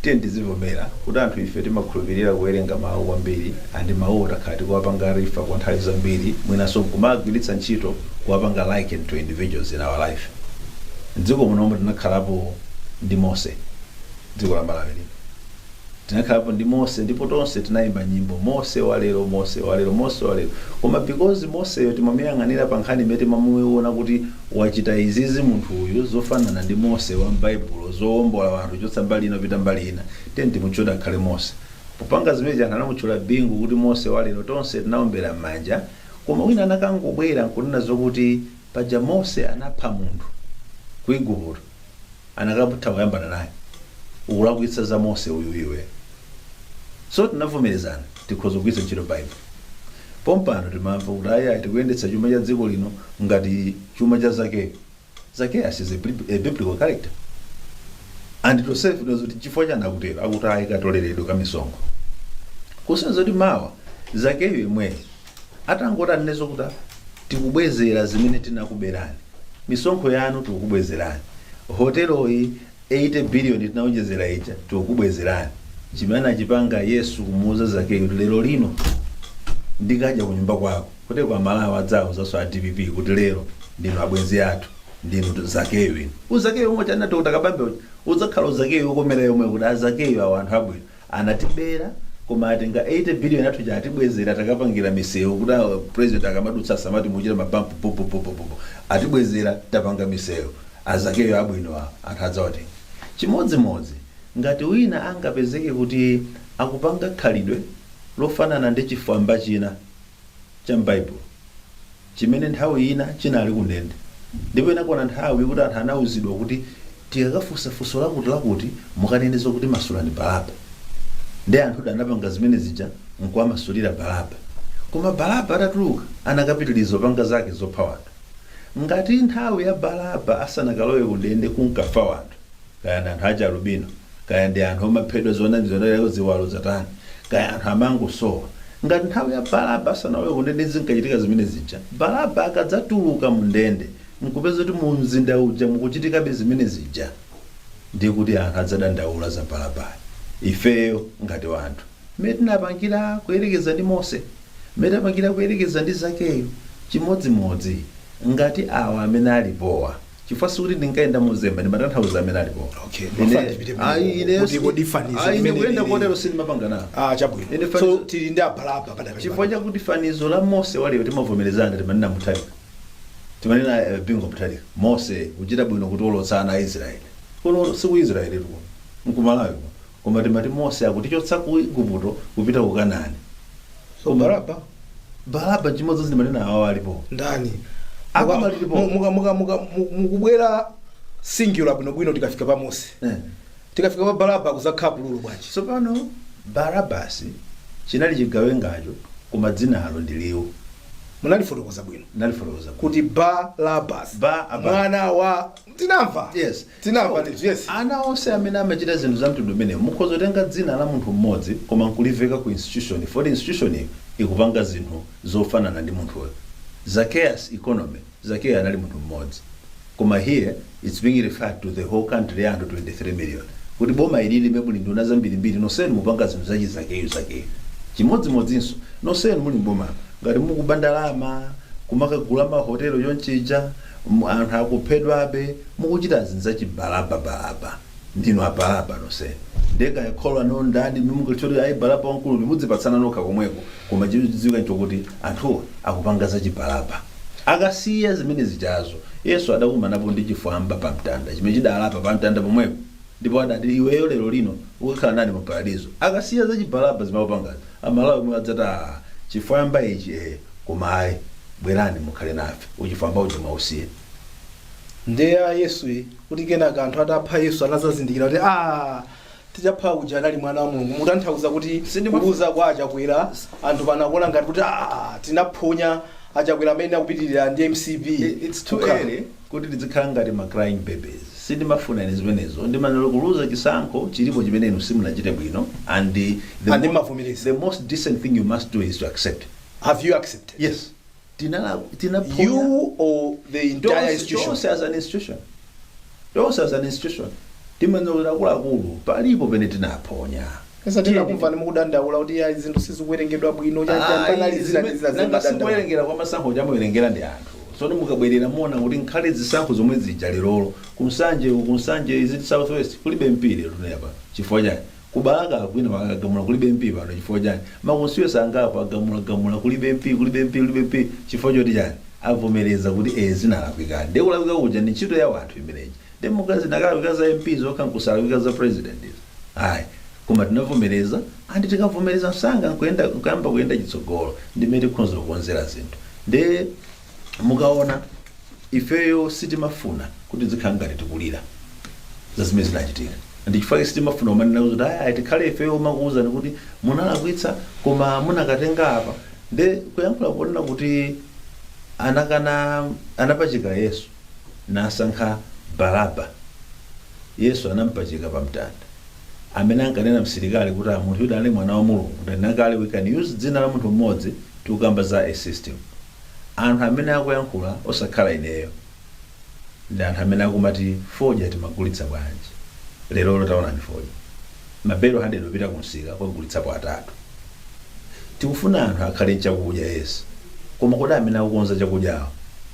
[SPEAKER 4] tiyeni tizivomera kuti anthu ife timakhulupirira kuwerenga mawu kwambiri andi mawu takhala tikuwapanga rifa kwa nthawi zambiri mwinanso kumagwiritsa ntchito kuwapanga liken to individuals in our life mdziko munomo tinakhalapo ndi mose Dziko la Malawi lino. Tinakhalapo ndi Mose ndipo tonse tinayimba nyimbo Mose walero, Mose walero, Mose walero. Koma because Moseyo timamuyang'anira pa nkhani imene timamuiona kuti wachita izizi munthu uyu zofanana ndi Mose wa m'Baibulo zowombola anthu kuchotsa mbali ina kupita mbali ina, tiyeni timutchule akhale Mose. Popanga zimenezi anthu anamutchula Bingu kuti Mose walero, tonse tinawombera m'manja. Koma wina anakangobwera n'kunena zokuti paja Mose anapha munthu ku Igupto. anakatha kuyambana naye ukulakwitsa za mose uyu iwe so tinavomerezana tikhoza kugwiritsa ntchito baibulo pompano timamva kuti ayi tikuyendetsa chuma cha dziko lino ngati chuma cha zakeyo zakeyo is a bib- a biblical character and tonsefe tidziwa kuti chifukwa chani akutero akuti ayi katoleredwe ka misonkho kusonyeza kuti mawa zakeyo yemweyo atangoti anene zokuti "Ah, tikubwezera zimene tinakuberani misonkho yanu tikukubwezerani hoteloyi 80 biliyoni tinaonjezera ija tikukubwezerani chimene anachipanga yesu kumuuza zakeyo kuti lero lino ndikadya kunyumba kwako kuti amalawi adzawauzanso a dpp kuti lero ndinu abwenzi athu ndinu zakeyo inu uzakeyo umene panopa uli ukatangale uja udzakhala uzakeyo wokomera omwe kuti azakeyo awo anthu abwino Anatibera koma atinga 80 billion yathu ija atibwezera takapangira misewu kuti a president akamadutsa asamati muchita mabampu bu bu bu bu bu bu. Atibwezera tapanga misewu. Azakeyo abwino awo anthu adzawatenga. Chimodzimodzi ngati wina angapezeke kuti akupanga khalidwe lofanana ndi chifwamba china cha m'Baibulo. chimene nthawi ina chinali kundende, ndipo inakwana nthawi yokuti anthu anauzidwa kuti tikakafunsa funso lakuti lakuti mukanene zakuti masulani Baraba. Nde anthu anapanga zimene zija nkuwamasulira Baraba. Koma Baraba atatuluka anakapitiliza kupanga zake zopha wanthu. Ngati nthawi ya Baraba asanakalowe kundende kunkafa wanthu. kaya ndi anthu aja alubino kaya ndi anthu omaphedwa zoona lero ziwalo zatani kaya anthu amangosowa ngati nthawi ya Baraba asanalowe kundende zinkachitika zimene zija Baraba akadzatuluka mu ndende nkupeza kuti mu mzinda uja mukuchitikabe zimene zija ndiye kuti anthu adzadandaula za Baraba ifeyo ngati wanthu mmene tinapangira kuyerekeza ndi mose mmene tinapangira kuyerekeza ndi zakeyo chimodzimodzi ngati awa amene alipowa chifukwa sikuti ndinkayenda mozemba ndimatanthauza amene alipowa Okay, Ine- mafana
[SPEAKER 3] tipite pa- ayi, ine- kuti kodi fanizo
[SPEAKER 4] ayi, ine limene kuyenda lili- kotero sindimapanga nawo ah chabwino Ine so fanizo-
[SPEAKER 3] tili ndi Baraba padakali chifukwa chakuti
[SPEAKER 4] fanizo la mose wa lero timavomerezana timanena Mutharika timanena eh, Bingu Mutharika mose kuchita bwino kutiwolotsa Aisraeli kuno siku israeli tu nku Malawi kuno Koma timati Mose akutichotsa ku Iguputo kupita ku Kanani.
[SPEAKER 3] So Baraba, Baraba chimodzimodzi ndimanena
[SPEAKER 4] awawa alipo. ndani
[SPEAKER 3] Apa Muka- malilipo. mu- muka- muka- muka- mu- mukubwera singular bwinobwino tikafika pa mose Eh. tikafika pa Baraba kuzakhala plural bwanji
[SPEAKER 4] Tsopano Barabasi chinali chigawengacho koma dzinalo ndi liwu. munalifotokoza
[SPEAKER 3] bwino Ndalifotokoza kuti. kuti
[SPEAKER 4] Barabas
[SPEAKER 3] Ba- aba. mwana wa
[SPEAKER 4] Tinamva. Yes.
[SPEAKER 3] Tinamva ndithu. Yes. ana onse
[SPEAKER 4] amene amachita zinthu za mtundu umenewu mukhoza kutenga dzina la munthu mmodzi koma nkuliveka ku institution poti institution iyo ikupanga zinthu zofanana ndi munthuyo Zacchaeus economy zakeyo anali munthu mmodzi koma here its being referred to the whole country ya anthu 23 million kuti boma ilili muli nduna zambirimbiri nonsenu mupanga zinthu zachi Zakeyo Zakeyo chimodzimodzinso nonsenu muli m'boma ngati mukuba ndalama kumakagula mahotelo chonchija M, anthu akuphedwabe mukuchita zinthu zachi Baraba Baraba ndinu a Baraba nonsenu ndiye kaya kholo lanulo ndani inu mungadziwe kuti ayi Baraba wamkulu uyu mudzipatsana nokha komweko koma chodziwika nchokuti anthuwa akupanga zachi Baraba akasiya zimene zijazo Yesu adakumanapo ndi chifwamba pamtanda chimene chidalapa pamtanda pomwepo. Ndipo adati iweyo lero lino ukakhala nane pa paradizo. Akasiya za Chibaraba zimene akupangazi, a Malawi omwe adzati aah chifwamba ichi eeh koma ayi bwerani mukhale nafe. Uchifwamba uja mwausiya.
[SPEAKER 3] Ndiye ya Yesu iyi kuti kenaka anthu atapha Yesu anadzazindikira kuti aah tichapha uja anali mwana wa Mulungu. Mukutanthauza kuti kuluza kwa a Chakwera anthu pano akuona ngati kuti aah tinaphonya a Chakwera amene akupitirira ndi MCP. It's too Kukhala- early.
[SPEAKER 4] kuti tidzikhala ngati ma crying babies sindimafuna ine zimenezo ndimanelo kuluza chisankho chilipo chimene inu simunachite bwino and the, the most decent thing you must do is to accept Have you
[SPEAKER 3] accepted? yes
[SPEAKER 4] tinala
[SPEAKER 3] tinaphonya You or the entire Tonse- institution? tonse as
[SPEAKER 4] an institution tonse as an institution timanelo akuluakulu palipo pene tinaphonya Because tinakumvani
[SPEAKER 3] mukudandaula kuti ya zinthu sizikuwerengedwa bwino cha cha panali zina ndi zina zimadandaula.
[SPEAKER 4] kuwerengera kwa masankho kuti amawerengera ndi anthu soti mukabwerera muona kuti nkhale zisankho zomwe zija lerolo ku Nsanje ku Nsanje is it southwest kulibe mp lero tunena pano chifukwa chani kubalaka kwina magagamula kulibe mp pano chifukwa chani ma constituency angapo agamula gamula kulibe mp kulibe mp kulibe mp chifukwa choti chani avomereza kuti e zinalakwika nde kulakwika kuja ndi ntchito ya wanthu imeneyi nde zinakalakwika za mp zokha nkusalakwika za president izi Ayi. Koma tinavomereza and tikavomereza msanga nkuyenda nkuyamba kuyenda chitsogolo ndi mmene tikhonza kukonzera zinthu. Nde mukaona ifeyo sitimafuna kuti tidzikhala ngati tikulira za zimene zinachitika. Ndi chifukwa chake sitimafuna kumanena kuti ayi ayi tikhale ifeyo omakuwuzani kuti munalakwitsa koma munakatenga apa. Nde kuyankhula ponena kuti anakana anapachika Yesu. nasankha Baraba. Yesu anampachika pa mtanda. Amene ankanena msilikali kuti ah munthu uyu anali mwana wa Mulungu ndanena kale we can use dzina la munthu mmodzi tikukamba za a system. Anthu amene akuyankhula osakhala ineyo ndi anthu amene akumati fodya timagulitsa bwanji lerolo taonani fodya. Mabelo hundred opita ku msika kugulitsapo atatu. Tikufuna anthu akhale nchakudya yes koma kodi amene akukonza chakudyawo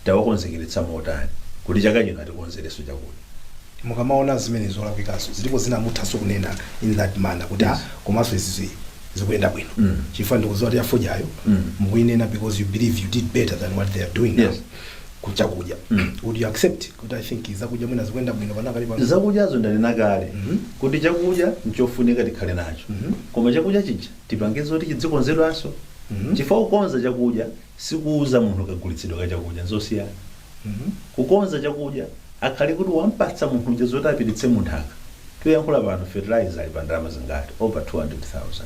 [SPEAKER 4] tawakonzekeretsa motani kuti chaka chino atikonzerenso chakudya.
[SPEAKER 3] Mukamaona zimene zolakwikanso zilipo zina muthanso kunena in that manner kuti ah Yes. komanso izi zi- zikuyenda bwino Mm. chifukwa ndikudziwa kuti yafodyayo Mm. mukuyinena because you believe you did better than what they are doing now. Yes. kuchakudya Mm. would you accept kuti i think zakudya mwina zikuyenda bwino panakali pano zakudyazo ndanena
[SPEAKER 4] kale Mhm. kuti chakudya nchofunika tikhale nacho Mhm. koma chakudya chija tipange zoti chidzikonzedwanso Mhm. chifukwa kukonza chakudya sikuuza munthu kagulitsidwe ka chakudya nzosiyana Mhm. kukonza chakudya akhale kuti wampatsa munthu uja zoti apititse munthaka tikuyankhula pano fertilizer ali pa ndalama zingati over 200000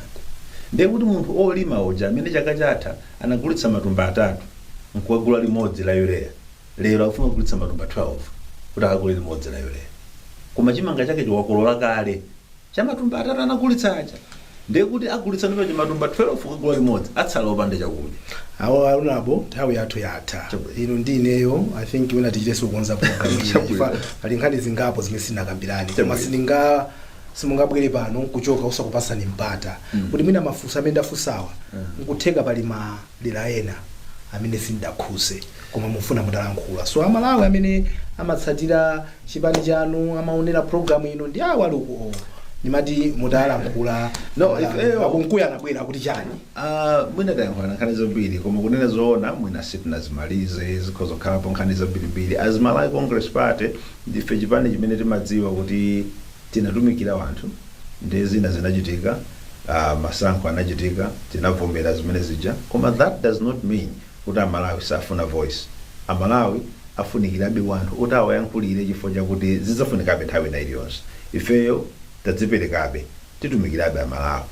[SPEAKER 4] ndiye kuti munthu olima uja amene chaka chatha anagulitsa matumba atatu nkuwagula limodzi la urea lero akufuna kugulitsa matumba 12 kuti akagule limodzi la urea koma chimanga chakecho wakolola kale cha matumba atatu anagulitsa aja ndiye kuti agulitsanso cha matumba 12 kugula limodzi atsala opanda chakudya a
[SPEAKER 3] Kunkuyu nthawi yathu yatha Chabwino. ino ndi ineyo i think mwina tichitenso kukonza program ina. Chabwino. Chifukwa pali nkhani zingapo zimene sitinakambirane koma Chabwino. sindinga simungabwere pano nkuchoka osakupatsani mpata kuti mwina mafunso amene ndafunsawa nkutheka pali ma dera ena amene sindidakhudze koma mufuna mutalankhula ndi amalawi amene amatsatira chipani chanu amaonera program ino ndi awa ali ukuwo ndimati mutalankhula No,
[SPEAKER 4] ifeyo- a Kunkuyu anabwera
[SPEAKER 3] akuti chani Ah,
[SPEAKER 4] mwina tayankhulana nkhani zambiri koma kunena zoona mwina sitinazimalize zikhoza kukhalapo nkhani zambirimbiri as malawi congress party ndife chipani chimene timadziwa kuti Tinatumikira wanthu nde zina zinachitika aah masankho anachitika tinavomera zimene zija koma that does not mean kuti amalawi safuna voice amalawi afunikirebe wanthu oti awayankhulire chifukwa chakuti zidzafunikabe nthawi ina iliyonse ifeyo tidziperekabe titumikirabe amalawi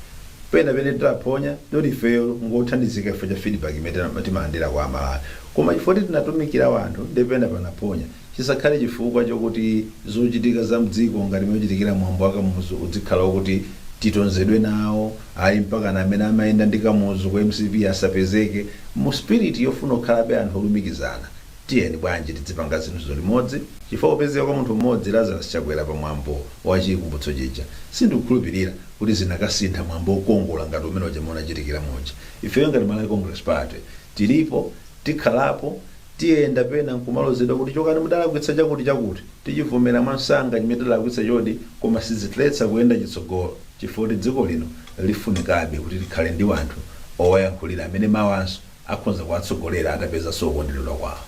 [SPEAKER 4] pena pena titaphonya ndipo ifeyo ngothandizika chifukwa cha feedback imene timalandira kwa amalawi koma chifukwa kuti tinatumikira wanthu nde pena panaphonya chisakhale chifukwa chokuti zochitika za mdziko ngati mmene uchitikira mwambo wa Kamuzu udzikhala okuti titonzedwe nawo, ayi mpakana amene amayenda ndi Kamuzu ku mcp asapezeke. Mu spirit yofuna kukhalabe anthu olumikizana tiyeni bwanji tidzipanga zinthuzo limodzi chifukwa kupezeka kwa munthu mmodzi Lazarus Chakwera pa mwambo wa chikumbutso chija sindikukhulupilira kuti zikanasintha mwambo okongola ngati umene uja unachitikira muja. Ifeyo ngati Malawi Congress Party tilipo, tikhalapo, Tiyenda pena nkumalozedwa kuti chokani mudalakwitsa chakuti chakuti, tichivomera mwansanga chimene tidalakwitsachodi koma sizitiletsa kuyenda chitsogolo chifukwa kuti dziko lino lifunikabe kuti likhale ndi wanthu owayankhulira amene mawanso akhonza kuwatsogolera atapezanso kukonderedwa kwawo.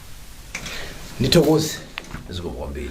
[SPEAKER 4] Ndithokoze zikomo kwambiri.